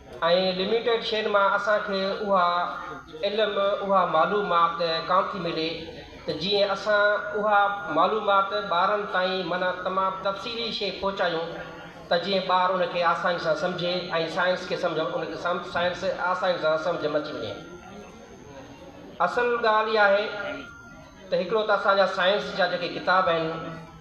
۽ لميٽيڊ شين مان اسان کي اها علم اها معلومات ڪانه ٿي ملي ته جيئن اسان اها معلومات ٻارن تائين معنيٰ تمام تفصيلي شيء پهچايون ته جيئن ٻار ان کي آساني سان سمجهي ۽ سائنس کي سمجهه ان کي سائنس آساني سان سمجهه م اچي وڃي اصل ڳالهه اها آهي ته هڪڙو ته اسان جا سائنس جا جيڪي ڪتاب آهن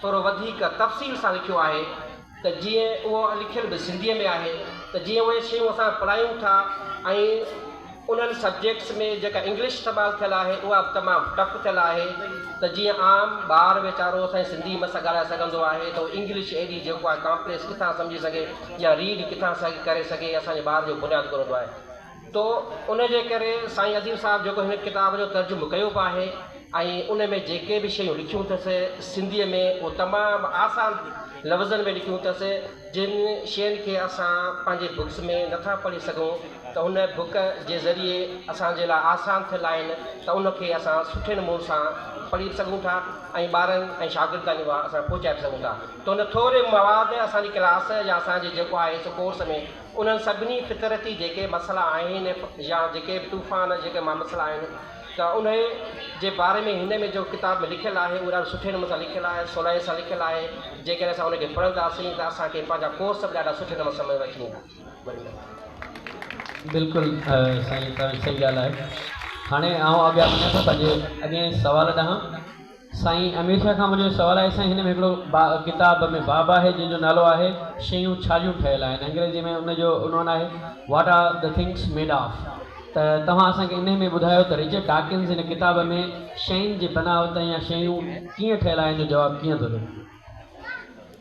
ٿورو وڌيڪ تفصيل سان لکيو آهي ته جيئن اهو لکيل به سنڌيء ۾ آهي ته جيئن اهي شيون اسان پڙهايون ٿا ۽ انهن سبجيڪٽس ۾ جيڪا انگلش استعمال ٿيل آهي اها به تمام ٽف ٿيل آهي ته جيئن عام ٻار ويچارو اسان جي سنڌي ۾ سان ڳالهائي سگهندو آهي ته اهو انگلش ايڏي جيڪو آهي ڪامپليڪس ڪٿان سمجهي سگهي يا ريڊ ڪٿان سهي ڪري سگهي اسان جي ٻار جو بنياد ڪونه هوندو آهي تو ان جي ڪري سائين عظيم صاحب جيڪو هن ڪتاب جو ترجمو ڪيو به آهي ۽ ان ۾ جيڪي به شيون لکيون اٿس سنڌيء ۾ اهو تمام آسان لفظن ۾ لکيون اٿس جن شين کي اسان پنهنجي بڪس ۾ نٿا پڙهي سگهون ته هن بڪ جي ذريعي اسان جي لاء آسان ٿيل آهن ته ان کي اسان سٺي نمون سان پڙهي به سگهون ٿا ۽ ٻارن ۽ شاگرد تائين اها اسان پهچائي به سگهون ٿا ته ان ٿوري مواد اسان جي ڪلاس يا اسان جي جيڪو آهي سو ڪورس ۾ انهن سڀني فطرتي جيڪي مسئلا آهن يا جيڪي به طوفان جيڪي مامسئلا آهن ته انهي جي باري ۾ هن ۾ جو ڪتاب ۾ لکيل آهي اهو ڏاڍو سٺي نموني سان لکيل آهي سولائي سان لکيل آهي جيڪڏهن اسان ان کي پڙهنداسين ته اسان کي پنهنجا ڪورس به ڏاڍا سٺي نموني سمجهه ۾ اچي ويندا وڏي مهرباني. بلڪل سائين تنوير صحيح ڳالهه آهي هاڻي آئون اڳيان وڃان ٿو پنهنجي اڳئين سوال ڏانهن. سائين امير شاهه کان منهنجو سوال آهي سائين هن ۾ هڪڙو ڪتاب ۾ باب آهي جنهن جو نالو آهي شيون ڇا جون ٺهيل آهن انگريزي ۾ ان جو عنوان آهي What are the things made of ته توهان اسان کي انهي ۾ ٻڌايو ته رچرڊ ڊاڪنز هن ڪتاب ۾ شين جي بناوت يا شيون ڪيئن ٺهيل آهن جو جواب ڪيئن ٿو ڏي.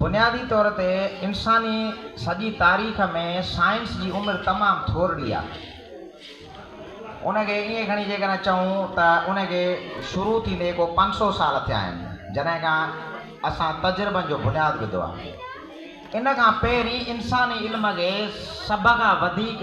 بنيادي طور تي انساني سڄي تاريخ ۾ سائنس جي عمر تمام ٿورڙي آهي. ان کي ائين کڻي جيڪڏهن چئون ته ان کي شروع ٿيندي ڪو پنج سؤ سال ٿيا آهن جڏهن کان اسان تجربن جو بنياد وڌو آهي. ان کان پهرين انساني علم کي سڀ کان وڌيڪ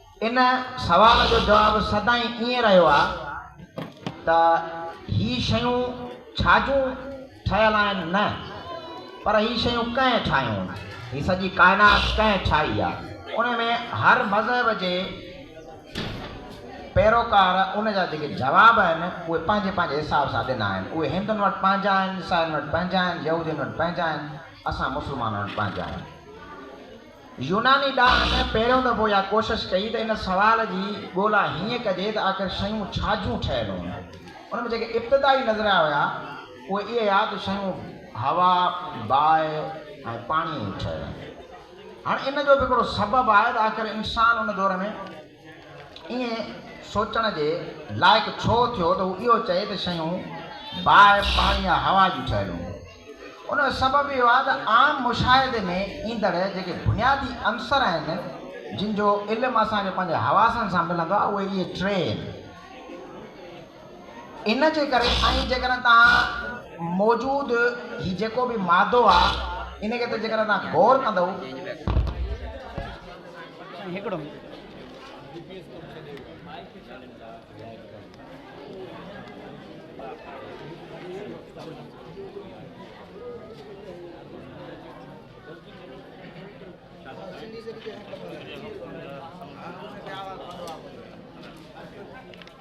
ان سوال جو جواب سدائين ائين رهيو آهي ته هي شيون ڇا جون ٺهيل آهن؟ نه، پر هي شيون ڪنهن ٺاهيون؟ هي سڄي ڪائنات ڪنهن ٺاهي آهي؟ ان ۾ هر مذهب جي پيروڪار ان جا جيڪي جواب آهن، اهي پنهنجي پنهنجي حساب سان ڏنا آهن. اهي هندن وٽ پنهنجا آهن، عيسائين وٽ پنهنجا آهن، يهودين وٽ پنهنجا آهن، اسان مسلمانن وٽ پنهنجا آهن. يوناني ڏاهن ۾ پهريون دفعو اها ڪوشش ڪئي ته ان سوال جي ڳولا هيئن ڪجي ته آخر شيون ڇا جون ٺهيل هون؟ ان ۾ جيڪي ابتدائي نظريا هيا اهي اهي هيا ته شيون هوا، باهه ۽ پاڻيء جون ٺهيل آهن. هاڻ ان جو به هڪڙو سبب آهي ته آخر انسان ان دور ۾. ائين سوچڻ جي لائق ڇو ٿيو ته هو اهو چئي ته شيون باهه، پاڻي يا هوا جون ٺهيل هونديون آهن. ان جو سبب اهو آهي ته عام مشاهدي ۾ ايندڙ جيڪي بنيادي عنصر آهن، جن جو علم اسان کي پنهنجي حواسن سان ملندو آهي، اهي اهي ٽي آهن. ان جي ڪري ۽ جيڪڏهن توهان موجود هي جيڪو به مادو آ ان کي ته جيڪڏهن توهان غور ڪندؤ ته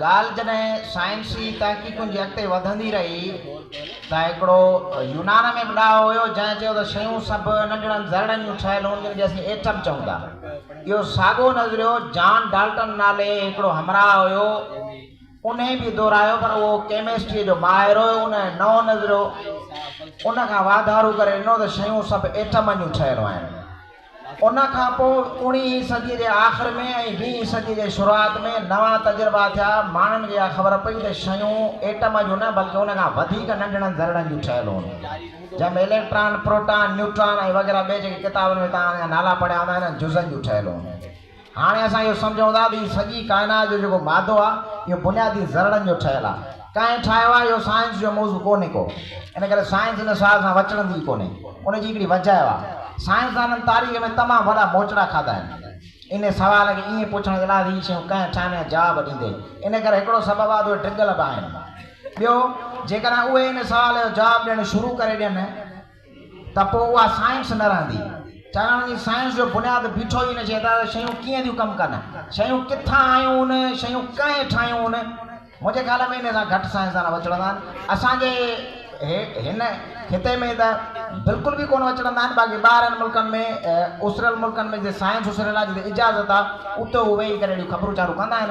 ڳالهه جڏهن سائنسي تحقيقن جي اڳتي وڌندي رهي ته هڪڙو يونان ۾ به ڏاهو هيو جنهن چيو ته شيون سڀ ننڍڙن ذرڙن جون ٺهيل هون جن کي اسين ايٽم چئون ٿا. اهو ساڳو نظريو جان ڊالٽن نالي هڪڙو همراهه هيو انهي به دهرايو پر اهو ڪيمسٽريء جو ماهر هيو ان نئون نظريو ان کان واڌارو ڪري ڏنو ته شيون سڀ ايٽمن جون ٺهيل آهن. ان کان پوء اوڻي هين صديء جي آخر ۾ ۽ ويهين صديء جي شروعات ۾ نوان تجربا ٿيا. ماڻهن کي اها خبر پئي ته شيون ايٽم جون نه بلڪه ان کان وڌيڪ ننڍڙن ذرڙن جون ٺهيل هون، جنهن ۾ اليڪٽران، پروٽان، نيوٽران ۽ وغيره ٻئي جيڪي ڪتابن ۾ توهان ان جا نالا پڙهيا هوندا انهن جزن جون ٺهيل هون. هاڻي اسان اهو سمجهون ٿا ته هي سڄي ڪائنات جو جيڪو مادو آهي اهو بنيادي ذرڙن جو ٺهيل آهي. ڪنهن ٺاهيو آهي اهو سائنس جو موضوع ڪونهي ڪو. ان ڪري سائنس ان سوال سان وچڙندي ئي ڪونهي. ان جي هڪڙي وجهه اهو آهي. سائنسدانن تاريخ ۾ تمام وڏا موچڙا کاڌا آهن. انهي سوال کي ائين پڇڻ جي لاء ته هي شيون ڪنهن ٺاهين يا جواب ڏيندي. ان ڪري هڪڙو سبب آهي ته اهي ڊگهل به آهن. ٻيو جيڪڏهن اهي ان سوال جو جواب ڏيڻ شروع ڪري ڏين. ته پوء اها سائنس نه رهندي. چاهڻ جي سائنس جو بنياد بيٺو ئي ان شيء تان ته شيون ڪيئن ٿيون ڪم ڪن، شيون ڪٿان آيون، شيون ڪنهن ٺاهيون. منهنجي خيال ۾ ان سان گهٽ سائنسدان وچڙندا آهن. اسان جي هن خطي ۾ ته بلڪل به ڪونه وچڙندا آهن، باقي ٻاهرين ملڪن ۾ اسريل ملڪن ۾ جتي سائنس اسريل آهي، جتي اجازت آهي، اتي هو ويهي ڪري اهڙيون خبرون چارون ڪندا آهن.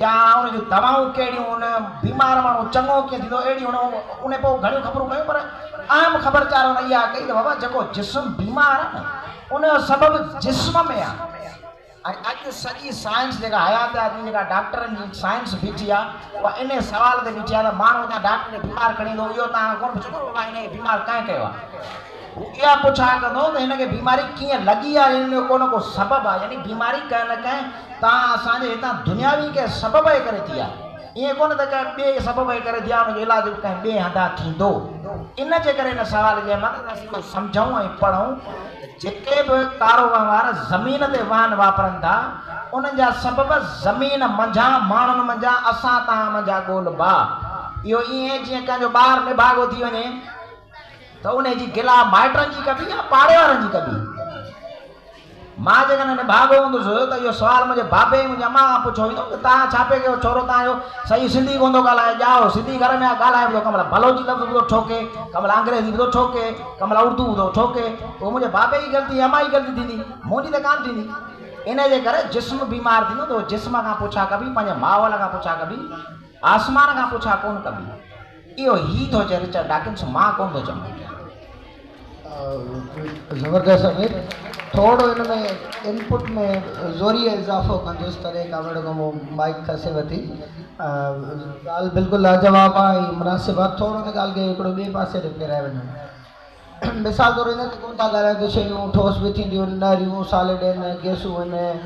يا ان جون دوائون ڪهڙيون هن بيمار ماڻهو چڱو ڪيئن ٿيندو اهڙي هن انهي پوء گهڻيون خبرون ڪيون پر اهم خبر چار هن اها ڪئي ته بابا جيڪو جسم بيمار آهي نه ان جو سبب جسم ۾ آهي ۽ اڄ سڄي سائنس جيڪا حيات آدمي جيڪا ڊاڪٽرن جي سائنس بيٺي آهي اها انهي سوال تي بيٺي آهي ته ماڻهو هتان ڊاڪٽر کي بيمار کڻي ايندو اهو توهان کان ڪونه پڇندو ته بابا هن کي بيمار ڪنهن ڪيو آهي هو اها پڇاڻ ڪندو ته هن کي بيماري ڪيئن لڳي آهي ان جو ڪو نه ڪو سبب آهي يعني بيماري ڪنهن نه ڪنهن تان اسان جي هتان دنياوي ڪنهن سبب جي ڪري ٿي آهي ائين ڪونه ته ڪنهن ٻئي سبب جي ڪري ٿي آهي ان جو علاج به ڪنهن ٻئي هنڌان ٿيندو ان جي ڪري ان سوال جي مغز اسين اهو سمجهون ۽ پڙهون ته جيڪي به ڪارو وهنوار زمين تي واهن واپرن ٿا انهن جا سبب زمين منجهان ماڻهن منجهان اسان توهان منجهان ڳول ٻاهه اهو ائين جيئن ڪنهن جو ٻار نڀاڳو ٿي وڃي ته انهي جي گلا مائٽن جي ڪبي يا پاڙي وارن جي ڪبي؟ مان جيڪڏهن نڀاڳو هوندس ته اهو سوال منهنجي بابي ۽ منهنجي اماء کان پڇيو ويندو ته توهان ڇا پئي ڪيو ڇورو توهان جو سئي سنڌي ڪونه ٿو ڳالهائي ڄائو سنڌي گهر ۾ آ ڳالهائي به ٿو ڪملا بلوچي لفظ به ٿو ٺوڪي ڪملا انگريزي به ٿو ٺوڪي ڪملا اردو به ٿو ٺوڪي اهو منهنجي بابي جي غلطي ۽ اماء جي غلطي ٿيندي منهنجي ته ڪانه ٿيندي انهي جي ڪري جسم بيمار ٿيندو ته جسم کان پڇا ڪبي پنهنجي ماحول کان پڇا ڪبي آسمان کان پڇا ڪونه ڪبي. اهو هي ٿو چئي رچرڊ ڊاڪنس مان ڪونه ٿو چوان پيان. زبردست امير ٿورڙو ان ۾ ان پٽ ۾ زوريء اضافو ڪندس تڏهن ڪامريڊ گومو مائيڪ کسي وتي ڳالهه بلڪل لاجواب آ ۽ مناسب آ ٿورڙو ان ڳالهه کي هڪڙو ٻئي پاسي ڏي ڦيرائي وڃون. مثال طور هن تي ڪونه ٿا ڳالهائين ته شيون ٺوس به ٿينديون، نهريون، سالڊ آهن، گئسون آهن،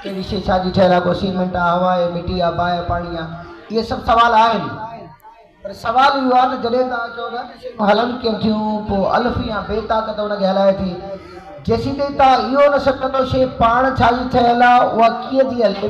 ڪهڙي شيء ڇا جي ٺهيل آهي، ڪو سيمنٽ آهي، هوا آهي، مٽي آهي، باهه آهي، پاڻي آهي، اهي سڀ سوال آهن. پر سوال اهو آهي ته جڏهن توهان چئو ٿا ته شيون هلن ڪيئن ٿيون، پوء الف يا بي طاقت ان کي هلائي ٿي. جيسيتائين توهان اهو نه سمجهندو شيء پاڻ ڇا جي ٺهيل آهي، اها ڪيئن ٿي هلي،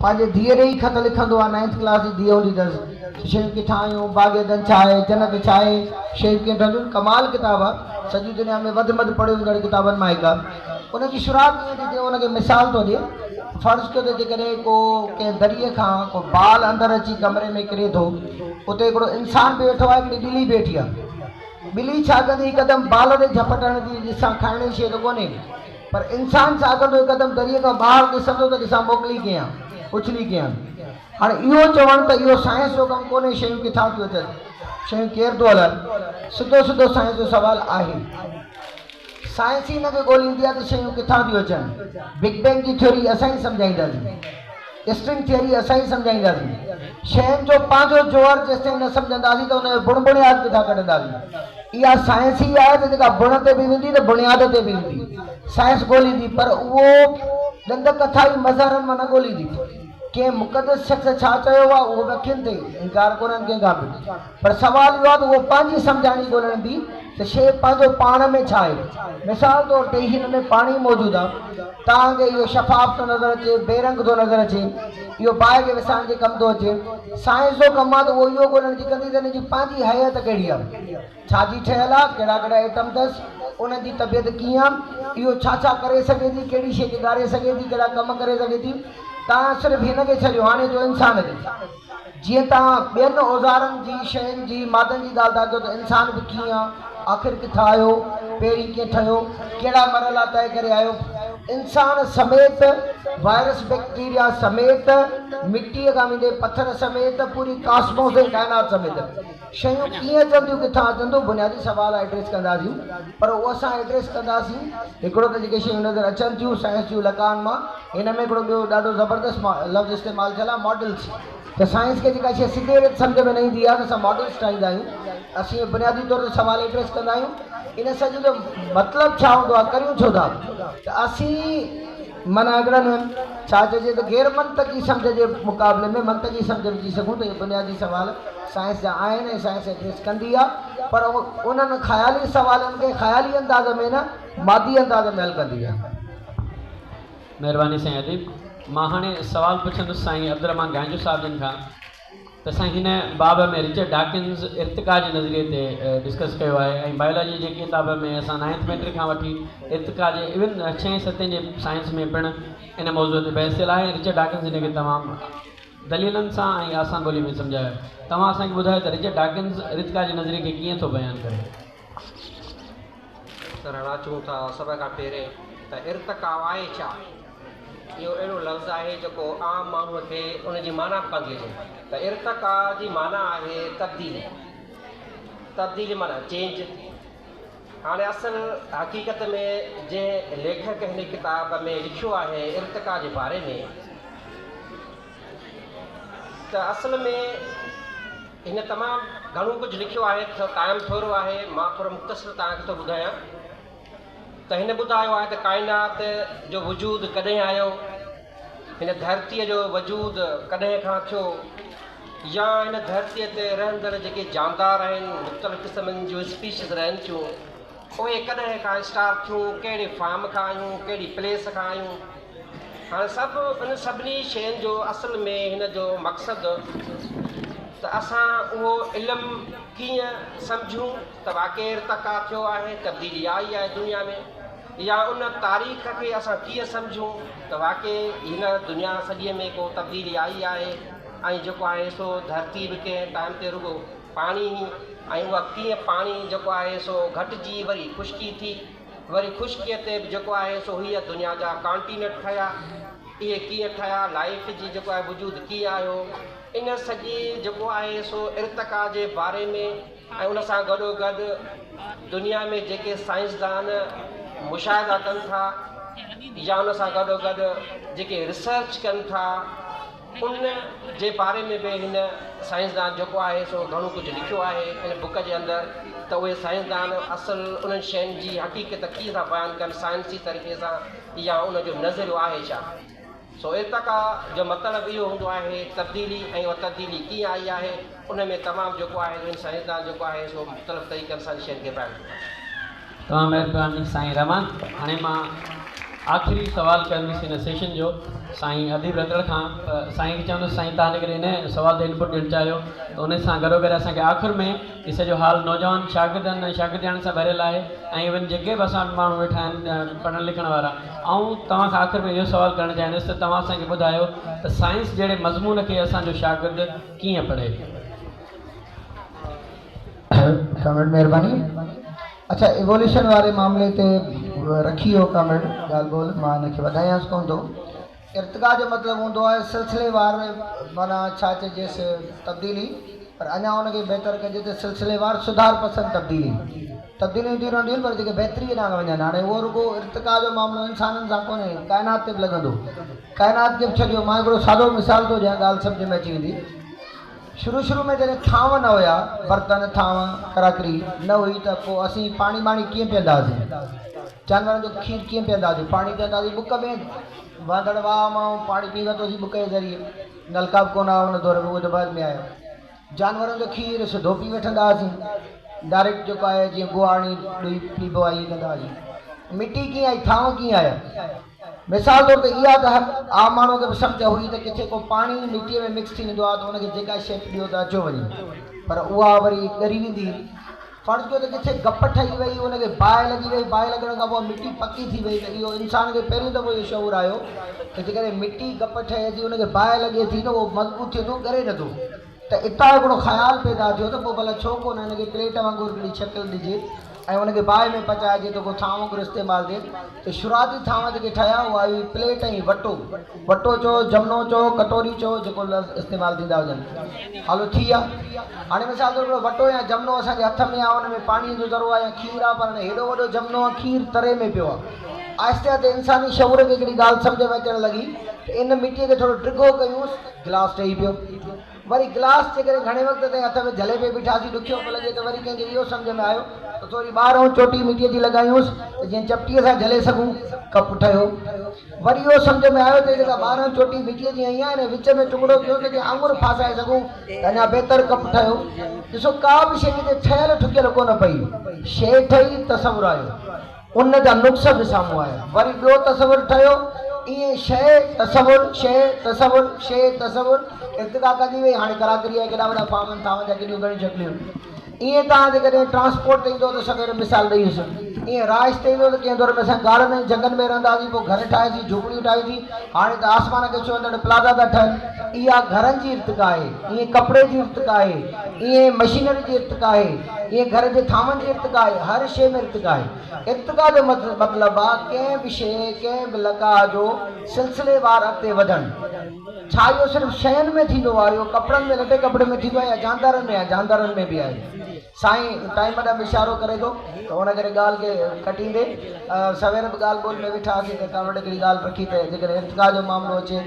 پنهنجي ڌيء ڏي ئي خط لکندو آ، نائنٿ ڪلاس جي ڌيء هوندي اٿس. شيون ڪٿان آيون، باغ عدن ڇا آهي، جنت ڇا آهي، شيون ڪيئن ٺهنديون، ڪمال ڪتاب آ. سڄي دنيا ۾ وڌ مڌ پڙهيو ويندڙ ڪتابن مان هڪ آ. ان جي شروعات ائين ٿي ٿئي، هو ان کي مثال ٿو ڏي، فرض ڪيو ته جيڪڏهن ڪو ڪنهن دريء کان ڪو بال اندر اچي ڪمري ۾ ڪري ٿو، اتي هڪڙو انسان به ويٺو آهي، هڪڙي ٻلي به ويٺي آ. ٻلي ڇا ڪندي، هڪدم بال تي جهپٽ هڻندي، ڏسان کائڻ جي شيء ته ڪونهي. پر انسان سان اڳندو هڪ قدم دريء کان ٻاهر ڏسندو ته ڏسان موڪلي ڪيئن اڇلي ڪيان. هاڻي اهو چوڻ ته اهو سائنس جو ڪم ڪونهي شيون ڪٿان ٿيون اچن، شيون ڪير ٿو هلائي، سڌو سڌو سائنس جو سوال آهي. سائنس ئي ان کي ڳوليندي آهي ته شيون ڪٿان ٿيون اچن. بگ بينگ جي ٿيوري اسان ئي سمجهائينداسين. اسٽرنگ ٿيوري اسان ئي سمجهائينداسين. شين جو پنهنجو جوهر جيستائين نه سمجهنداسين ته ان جو بڻ بڻياد ڪٿان ڪڍنداسين. اها سائنس ئي آهي ته جيڪا بڻ تي به ويندي ته بڻياد تي به ايندي. سائنس ڳوليندي پر اهو ڏند ڪٿا ئي مظهرن مان نه ڳوليندي. ڪنهن مقدس شخص ڇا چيو آهي اهو به اکين تي ئي. انڪار ڪونهن ڪنهن کان به. پر سوال اهو آهي ته اهو پنهنجي سمجهاڻي ڳولڻ به ته شيء پنهنجو پاڻ ۾ ڇا آهي؟ مثال طور تي هن ۾ پاڻي موجود آهي، تانگي اهو شفاف ٿو نظر اچي، بي رنگ ٿو نظر اچي، اهو باهه کي وسائڻ جي ڪم ٿو اچي. سائنس جو ڪم آهي ته اهو اهو ڳولڻ جي ڪندي ته ان جي پنهنجي هيئت ڪهڙي آهي، ڇا جي ٺهيل آهي، ڪهڙا ڪهڙا ايٽم اٿس، انهن جي طبيعت ڪيئن آهي، اهو ڇا ڇا ڪري سگهي ٿي، ڪهڙي شيء کي ڳاري سگهي ٿي، ڪهڙا ڪم ڪري سگهي ٿي. توهان صرف هن کي ڇڏيو، هاڻي اچو انسان تي. جيئن توهان ٻين اوزارن جي، شين جي، مادن جي ڳالهه ٿا ڪيو ته انسان به ڪيئن آ؟ آخر ڪٿان آيو؟ پهرين ڪيئن ٺهيو؟ ڪهڙا مرحلا طئي ڪري آيو؟ انسان سميت، وائرس بيڪٽيريا سميت، مٽيء کان ويندي پٿر سميت، پوري ڪاسموس ۽ ڪائنات سميت. شيون ڪيئن چونديون ڪٿان اچن ٿيون بنيادي سوال ايڊريس ڪنداسين پر اهو اسان ايڊريس ڪنداسين هڪڙو ته جيڪي شيون نظر اچن ٿيون سائنس جون لقائن مان هن ۾ هڪڙو ٻيو ڏاڍو زبردست لفظ استعمال ٿيل آهي ماڊلز ته سائنس کي جيڪا شيء سڌي ريت سمجهه ۾ نه ايندي آهي ته اسان ماڊلز ٺاهيندا آهيون اسين اهي بنيادي طور تي سوال ايڊريس ڪندا آهيون ان سڄي جو مطلب ڇا هوندو آهي ڪريون ڇو ٿا ته اسين من اڳڙن هن ڇا چئجي ته غير منطقي سمجهه جي مقابلي ۾ منطقي سمجهه وجهي سگهون ته اهي بنيادي سوال سائنس جا آهن ۽ سائنس ايڊريس ڪندي آهي پر انهن خيالي سوالن کي خيالي انداز ۾ نه مادي انداز ۾ حل ڪندي آهي. مهرباني سائين اديب. مان هاڻي سوال پڇندس سائين عبدالرحمان گائنجو صاحب جن کان. ته سائين هن باب ۾ رچرڊ ڊاڪنز ارتقا جي نظريي تي ڊسڪس ڪيو آهي ۽ بائيولاجي جي ڪتاب ۾ اسان نائنٿ ميٽرڪ کان وٺي ارتقا جي ايون ڇهين ستين جي سائنس ۾ پڻ ان موضوع تي بحث ٿيل آهي ۽ رچرڊ ڊاڪنز ان کي تمام دليلن سان ۽ آسان ٻولي ۾ سمجهايو آهي توهان اسان کي ٻڌايو ته رچرڊ ڊاڪنز رتقا جي نظريي کي ڪيئن ٿو بيان ڪري. رڙا اچون ٿا سڀ کان پهرين ته ارتقا آهي ڇا؟ اهو اهڙو لفظ آهي جيڪو عام ماڻهوء کي ان جي معنيٰ به ڪانه ٿي اچي ته ارتقا جي معنيٰ آهي تبديلي، تبديلي معنيٰ چينج. هاڻي اصل حقيقت ۾ جنهن ليکڪ هن ڪتاب ۾ لکيو آهي ارتقا جي باري ۾. ته اصل ۾ هن تمام گهڻو ڪجهه لکيو آهي ته ٽائم ٿورو آهي، مان ٿورو مختصر توهان کي ٿو ٻڌايان ته هن ٻڌايو آهي ته ڪائنات جو وجود ڪڏهن آيو، هن ڌرتيء جو وجود ڪڏهن کان ٿيو يا هن ڌرتيء تي رهندڙ جيڪي جاندار آهن، مختلف قسمن جون اسپيشيز رهن ٿيون، پوء ڪڏهن کان اسٽار ٿيون، ڪهڙي فارم کان آيون، ڪهڙي پليس کان آيون. هاڻي سڀ ان سڀني شين جو اصل ۾ هن جو مقصد ته اسان اهو علم ڪيئن سمجهون ته واقعي ارتقا ٿيو آهي، تبديلي آئي آهي دنيا ۾ يا ان تاريخ کي اسان ڪيئن سمجهون ته واقعي هن دنيا سڄي ۾ ڪو تبديلي آئي آهي ۽ جيڪو آهي سو ڌرتي به ڪنهن ٽائيم تي رڳو پاڻي هئي ۽ اها ڪيئن پاڻي جيڪو آهي سو گهٽجي وري خشڪي ٿي وري خشڪيء تي به جيڪو آهي سو هيء دنيا جا ڪانٽينٽ ٺهيا اهي ڪيئن ٺهيا لائيف جي جيڪو آهي وجود ڪيئن آيو ان سڄي جيڪو آهي سو ارتقا جي باري ۾ ۽ ان سان گڏو گڏ دنيا ۾ جيڪي سائنسدان مشاهدا ڪن ٿا يا ان سان گڏو گڏ جيڪي ريسرچ ڪن ٿا ان جي باري ۾ به هن سائنسدان جيڪو آهي سو گهڻو ڪجهه لکيو آهي ان بوڪ جي اندر ته اهي سائنسدان اصل انهن شين جي حقيقت ڪيئن ٿا بيان ڪن سائنسي طريقي سان يا ان جو نظريو آهي ڇا؟ سو ارتقا جو مطلب اهو هوندو آهي تبديلي ۽ اها تبديلي ڪيئن آئي آهي ان ۾ تمام جيڪو آهي سو هن سائنسدان جيڪو آهي سو مختلف طريقن سان ان شين کي بيان ڪيو آهي. تمام مھرباني سائين رحمان ھاڻي مان آخري سوال ڪندس ان سيشن جو سائين اديب رتڙ کان ته سائين کي چوندس سائين تھان جيڪڏھن ان سوال تي انپٽ ڏيڻ چاھيو ته ان سان گڏو گڏ اسان کي آخر ۾ ھي سڄو ھال نوجوان شاگردن ۽ شاگردياڻين سان ڀريل آھي ۽ ايون جيڪي به اسان وٽ ماڻھو ويٺا آھن پڙھڻ لکڻ وارا آئون توھان کان آخر ۾ اھو سوال ڪرڻ چاھيندس ته توھان اسان کي ٻڌايو ته سائنس جھڙي مضمون کي اسان جو شاگرد ڪيئن پڙھي؟ ڪامريڊ مهرباني اڇا ايووليوشن واري معاملي تي رکي هو ڪامريڊ ڳالهه ٻولهه مان هن کي وڌايانس ڪونه ٿو ارتقا جو مطلب هوندو آهي سلسلي وار معنيٰ ڇا چئجيس تبديلي پر اڃا ان کي بهتر ڪجي ته سلسلي وار سڌار پسند تبديلي تبديليون اينديون رهنديون آهن پر جيڪي بهتري ڏانهن وڃن هاڻي اهو رڳو ارتقا جو معاملو انسانن سان ڪونهي ڪائنات تي به لڳندو ڪائنات کي به ڇڏيو مان هڪڙو سادو مثال ٿو ڏيان ڳالهه سمجهه ۾ اچي ويندي شروع شروع ۾ جڏهن ٿانو نه هيا، برتن، ٿانو، ڪراڪري، نه هئي ته پوء اسين پاڻي ٻاڻي ڪيئن پيئندا هئاسين؟ جانورن جو کير ڪيئن پيئندا هئاسين؟ پاڻي پيئندا هئاسين بڪ ۾، وهندڙ واهه مان پاڻي پئي ورتو سين بڪ جي ذريعي، نلڪا به ڪونه هئا ان دور ۾ اهو ته بعد ۾ آيو. جانورن جو کير سڌو پي وٺندا هئاسين، ڊائريڪٽ جيڪو آهي جيئن ڳوهاڻي ڏوهي پيبو آهي ائين ڪندا هئاسين. مٽي ڪيئن آئي، ٿانو ڪيئن آيا؟ مثال طور تي اها ڳالهه عام ماڻهوء کي به سمجهه هئي ته ڪٿي ڪو پاڻي ئي مٽيء ۾ مڪس ٿي ويندو آهي ته ان کي جيڪا شيء ڏيو ته اچيو وڃي، پر اها وري ڳري ويندي هئي. فرض ڪيو ته ڪٿي گپ ٺهي وئي، ان کي باهه لڳي وئي، باهه لڳڻ کان پوء مٽي پڪي ٿي وئي ته اهو انسان کي پهريون دفعو اهو شعور آيو ته جيڪڏهن مٽي گپ ٺهي ٿي، ان کي باهه لڳي ٿي ته اهو مضبوط ٿئي ٿو، ڳري نٿو. ته اتان هڪڙو خيال پيدا ٿيو ته پوء ڀلا ڇو ڪونه هن کي پليٽ وانگر هڪڙي شڪل ڏجي ۽ ان کي باهه ۾ پچائجي ته ڪو ٿانو وانگر استعمال ٿئي ته شروعاتي ٿانوا جيڪي ٺهيا اها هئي پليٽ ۽ وٽو وٽو چئو جمنو چئو ڪٽوري چئو جيڪو لفظ استعمال ٿيندا هجن هالو ٿي ويا هاڻي مثال طور هڪڙو وٽو يا جمنو اسان جي هٿ ۾ آهي ان ۾ پاڻيء جو ذرو آهي يا کير آهي پر هاڻي هيڏو وڏو جمنو ۽ کير تري ۾ پيو آهي آهستي آهستي انساني شعور کي هڪڙي ڳالهه سمجهه ۾ اچڻ لڳي ته ان مٽيء کي ٿورو ڊگهو ڪيونس گلاس ٽهي پيو. وري گلاس جيڪڏهن گهڻي وقت تائين هٿ ۾ جهلي پئي بيٺاسين ڏکيو پيو لڳي ته وري ڪنهن کي اهو سمجهه ۾ آيو ته ٿوري ٻار ۽ چوٽي مٽيء جي لڳايونس ته جيئن چپٽيء سان جهلي سگهون. ڪپ ٺهيو. وري اهو سمجهه ۾ آيو ته جيڪا ٻار ۽ چوٽي مٽيء جي هنئين آهي نه وچ ۾ ٽڪڙو ڪيون ته جيئن آڱر ڦاسائي سگهون ته اڃا بهتر ڪپ ٺهيو. ڏسو ڪا به شيء ڪٿي ٺهيل ٺڪيل ڪونه پئي شيء ٺهي، تصور آيو. ان جا نقص به سامهون آيا. وري ٻيو تصور ٺهيو. ائين شيء تصور، شيء تصور، شيء تصور ارتقا ڪندي وئي. هاڻي ڪراڪريء جا ڪيڏا وڏا فارم آهن، ٿانون جا ڪيڏيون گهڻيون شڪليون آهن. ائين توهان جيڪڏهن ٽرانسپورٽ تي ايندؤ ته سوير مثال ڏئي وسيم. ائين رهائش تي ايندؤ ته ڪنهن دور ۾ اسان غارن ۽ جهنگن ۾ رهندا هئاسين، پوء گهر ٺاهياسين، جهوپڙيون ٺاهيسين. هاڻي ته آسمان کي ڇهندڙ پلازا ٿا ٺهن. اها گهرن جي ارتقا آهي. ائين ڪپڙي جي ارتقا آهي. ائين مشينري جي ارتقا آهي. هيء گهر جي ٿانون جي ارتقا آهي، هر شيء ۾ ارتقا آهي. ارتقا جو مطلب آهي ڪنهن به شيء، ڪنهن به لقاء جو سلسليوار اڳتي وڌڻ. ڇا اهو صرف شين ۾ ٿيندو آهي؟ اهو ڪپڙن ۾ لٽي ڪپڙن ۾ ٿيندو آهي يا جاندارن ۾ آهي؟ جاندارن ۾ به آهي. سائين ٽائيم ڏانهن به اشارو ڪري ٿو ته ان ڪري ڳالهه کي ڪٽيندي سوير به ڳالهه ٻولهه ۾ ويٺا هئاسين ته ڪا وٽ هڪڙي ڳالهه رکي ته جيڪڏهن ارتقا جو معاملو اچي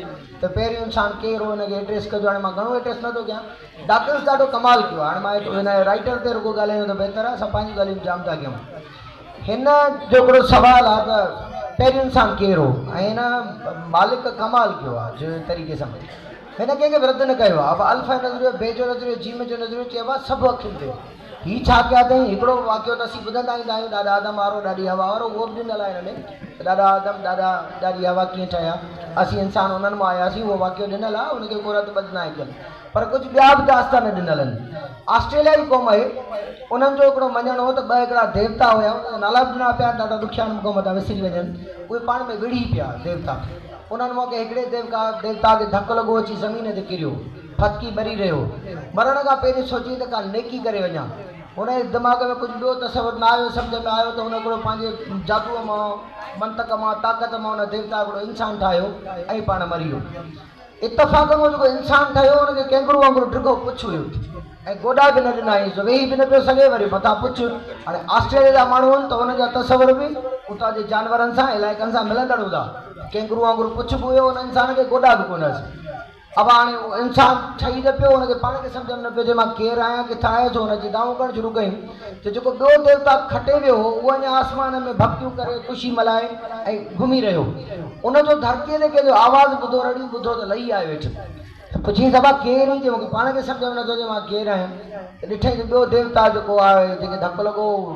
ته پهريون انسان ڪير هو ان کي ايڊريس ڪجو. هاڻي مان گهڻو ايڊريس نه ٿو ڪيان. ڊاڪنس ڏاڍو ڪمال ڪيو. هاڻ مان ايترو هن رائيٽر تي رڳو ڳالهايون ته بهتر آهي، اسان پنهنجون ڳالهيون جام ٿا ڪيون. هن جو هڪڙو سوال آهي ته پهريون انسان ڪير هو؟ ۽ هن مالڪ ڪمال ڪيو آهي جو ان طريقي سان هن ڪنهن کي به رد نه ڪيو آهي. اهو الف آهي نظريو، بي جو نظريو، جيم جو نظريو چئبو آهي سڀ اکين تي. هي ڇا ڪيا اٿئي؟ هڪڙو واقعو ته اسين ٻڌندا ايندا آهيون، ڏاڏا آدم وارو، ڏاڏي حوا وارو، اهو به ڏنل آهي هن ۾ ته ڏاڏا آدم، ڏاڏا، ڏاڏي حوا ڪيئن ٺهيا، اسين انسان انهن مان آياسين، اهو واقعو ڏنل آهي، ان کي ڪو رد ٻڌ ناهي ڪيل، پر ڪجهه ٻيا به داستان ڏنل آهن. آسٽريليا جي قوم آهي، انهن جو هڪڙو مڃڻ هو ته ٻه هڪڙا ديوتا هيا، انهن جا نالا به ڏنا پيا آهن، ڏاڍا ڏکيا آهن، مون کان متان وسري وڃن، اهي پاڻ ۾ وڙهي پيا، ديوتا، انهن مان ڪنهن هڪڙي ديوتا کي ڌڪ لڳو، اچي زمين تي ڪريو. ڦڪي مري رهيو. مرڻ کان پهرين سوچيئي ته ڪا نيڪي ڪري وڃان. هن جي دماغ ۾ ڪجهه ٻيو تصور نه آيو، سمجهه ۾ آيو ته هن هڪڙو پنهنجي جادوء مان، منطق مان، طاقت مان هن ديوتا هڪڙو انسان ٺاهيو ۽ پاڻ مري ويو. اتفاقن اهو جيڪو انسان ٺهيو هن کي ڪينگرو وانگر ڊگهو پڇ هيو ۽ گوڏا به نه ڏنا هيس جو ويهي به نه پيو سگهي وري مٿان پڇ هاڻي آسٽريليا جا ماڻهو هن ته هن جا تصور به اتان جي جانورن سان علائقن سان ملندڙ هوندا. ڪينگرو وانگر پڇ به هيو هن انسان کي گوڏا به ڪونه هيس. ابا هاڻي اهو انسان ٺهي نه پيو، هن کي پاڻ کي سمجهه ۾ نه پيو اچي مان ڪير آهيان، ڪٿان آيو، سو هن جي دانهون ڪرڻ شروع ڪيون ته جيڪو ٻيو ديوتا کٽي ويو هو، اهو اڃا آسمان ۾ ڀڀڪيون ڪري خوشي ملهائي ۽ گهمي رهيو هو. ان جو ڌرتيء تي ڪنهن جو آواز ٻڌو، رڙيون ٻڌو ته لهي آيو هيٺ ۽ پڇيس، ابا ڪير هين؟ چيو مون کي پاڻ کي سمجهه ۾ نه ٿو اچي مان ڪير آهيان، ته ڏٺئي ته ٻيو ديوتا جيڪو آهي، جنهن کي ڌڪ لڳو هو،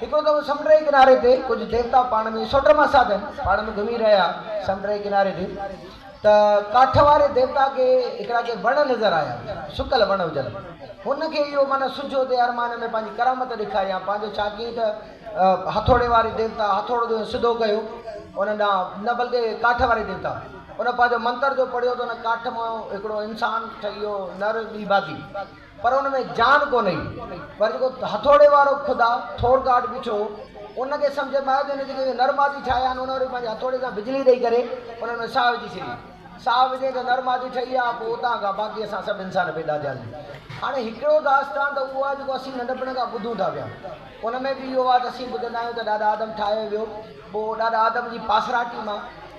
هڪڙو دفعو سمنڊ جي ڪناري تي ڪجهه ديوتا پاڻ ۾ سوٽ مان ساڌن پاڻ ۾ گهمي رهيا سمنڊ جي ڪناري تي ته ڪاٺ واري ديوتا کي هڪڙا ڪي وڻ نظر آيا سڪل وڻ هجن هن کي اهو معنيٰ سجهو تي ارمان ۾ پنهنجي ڪرامت ڏيکاريان پنهنجو ڇا ڪيئي ته هٿوڙي واري ديوتا هٿوڙو جو سڌو ڪيو ان ڏانهن نه بلڪه ڪاٺ واري ديوتا ان پنهنجو منتر جو پڙهيو ته ان ڪاٺ مان هڪڙو انسان ٺهي ويو نر ٻي باقي پر ان ۾ جان ڪونه هئي. پر جيڪو هٿوڙي وارو خدا، ٿور گاڊ، بيٺو هو، ان کي سمجهه ۾ آيو ته هن جيڪي اهي نر مادي ٺاهيا آهن، انهن وري پنهنجي هٿوڙي سان بجلي ڏيئي ڪري انهن ۾ ساهه وجهي ڇڏي. ساهه وجهين ته نر مادي ٺهي آ، پوء اتان کان باقي اسان سڀ انسان پيدا ٿياسين. هاڻي هڪڙو داستان ته اهو آ، جيڪو اسين ننڍپڻ کان ٻڌون ٿا پيا. ان ۾ به اهو آ ته اسين ٻڌندا آهيون ته ڏاڏا آدم ٺاهيو ويو، پوء ڏاڏا آدم جي پاسراٽي مان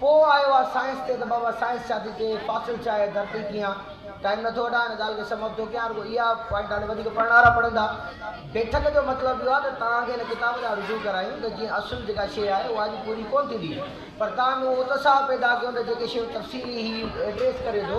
پوء آيو آ سائنس تي ته بابا سائنس ڇا ٿي چئي، فاصل ڇا آهي، ڌرتي ڪيئن آ. ٽائيم نٿو وٺان هن ڳالهه کي سم اپ ٿو ڪيان رڳو اها پوائنٽ هاڻي وڌيڪ پڙهڻهارا پڙهندا. بيٺڪ جو مطلب اهو آ ته توهان کي هن ڪتاب ڏانهن رجوع ڪرايون ته جيئن اصل جيڪا شيء آهي اها اڄ پوري ڪونه ٿيندي پر توهان ۾ اهو اتساهه پيدا ڪيون ته جيڪي شيون تفصيلي هي ايڊريس ڪري ٿو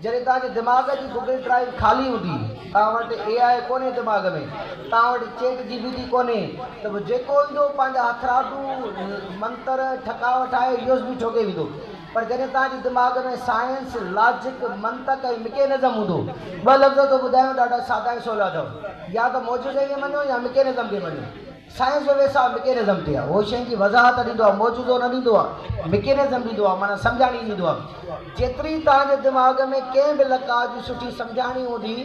جڏهن توهان جي دماغ جي گوگل ڊرائيو خالي هوندي، توهان وٽ اي آء ڪونهي دماغ ۾، توهان وٽ چيٽ جي پي ٽي ڪونهي ته پوء جيڪو ايندو پنهنجا هٿرادو منتر ٺڪاء وٺائي يو ايس بي ٺوڪي ويندو پر جڏهن توهان جي دماغ ۾ سائنس، لاجڪ، منطق ۽ مڪينزم هوندو. ٻه لفظ ٿو ٻڌايان ڏاڍا سادا ۽ سولا اٿو يا ته معجزي کي مڃو يا مڪينزم کي مڃو. سائنس جو ويساهه مڪينزم تي آهي. اهو شين جي وضاحت ڏيندو آهي، معجزو نه ڏيندو آهي. مڪينزم ڏيندو آهي معنيٰ سمجهاڻي ڏيندو آهي. جيتري توهان جي دماغ ۾ ڪنهن به لقاء جي سٺي سمجهاڻي هوندي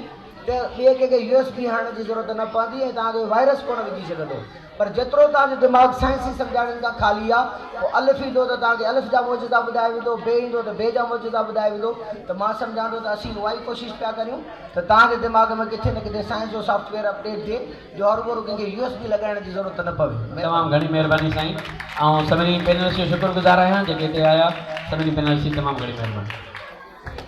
ته ٻئي ڪنهن کي يو ايس بي هڻڻ جي ضرورت نه پوندي ۽ توهان کي وائرس ڪونه وجهي سگهندو. پر جيترو توهان جو دماغ سائنسي سمجهاڻين کان خالي آهي، پوء الف ايندو ته توهان کي الف جا معجزا ٻڌايا ويندو، بي ايندو ته بي جا معجزا ٻڌايا ويندو ته مان سمجهان ٿو ته اسين اهائي ڪوشش پيا ڪريون ته توهان جي دماغ ۾ ڪٿي نه ڪٿي سائنس جو سافٽ ويئر اپ ڊيٽ ٿئي جو هروڀرو ڪنهن کي يو ايس بي لڳائڻ جي ضرورت نه پوي. تمام گهڻي مهرباني سائين آئون سڀني پينلسٽ جو شڪر گذار آهيان جيڪي هتي آيا سڀني پينلسٽ جي تمام گهڻي مهرباني.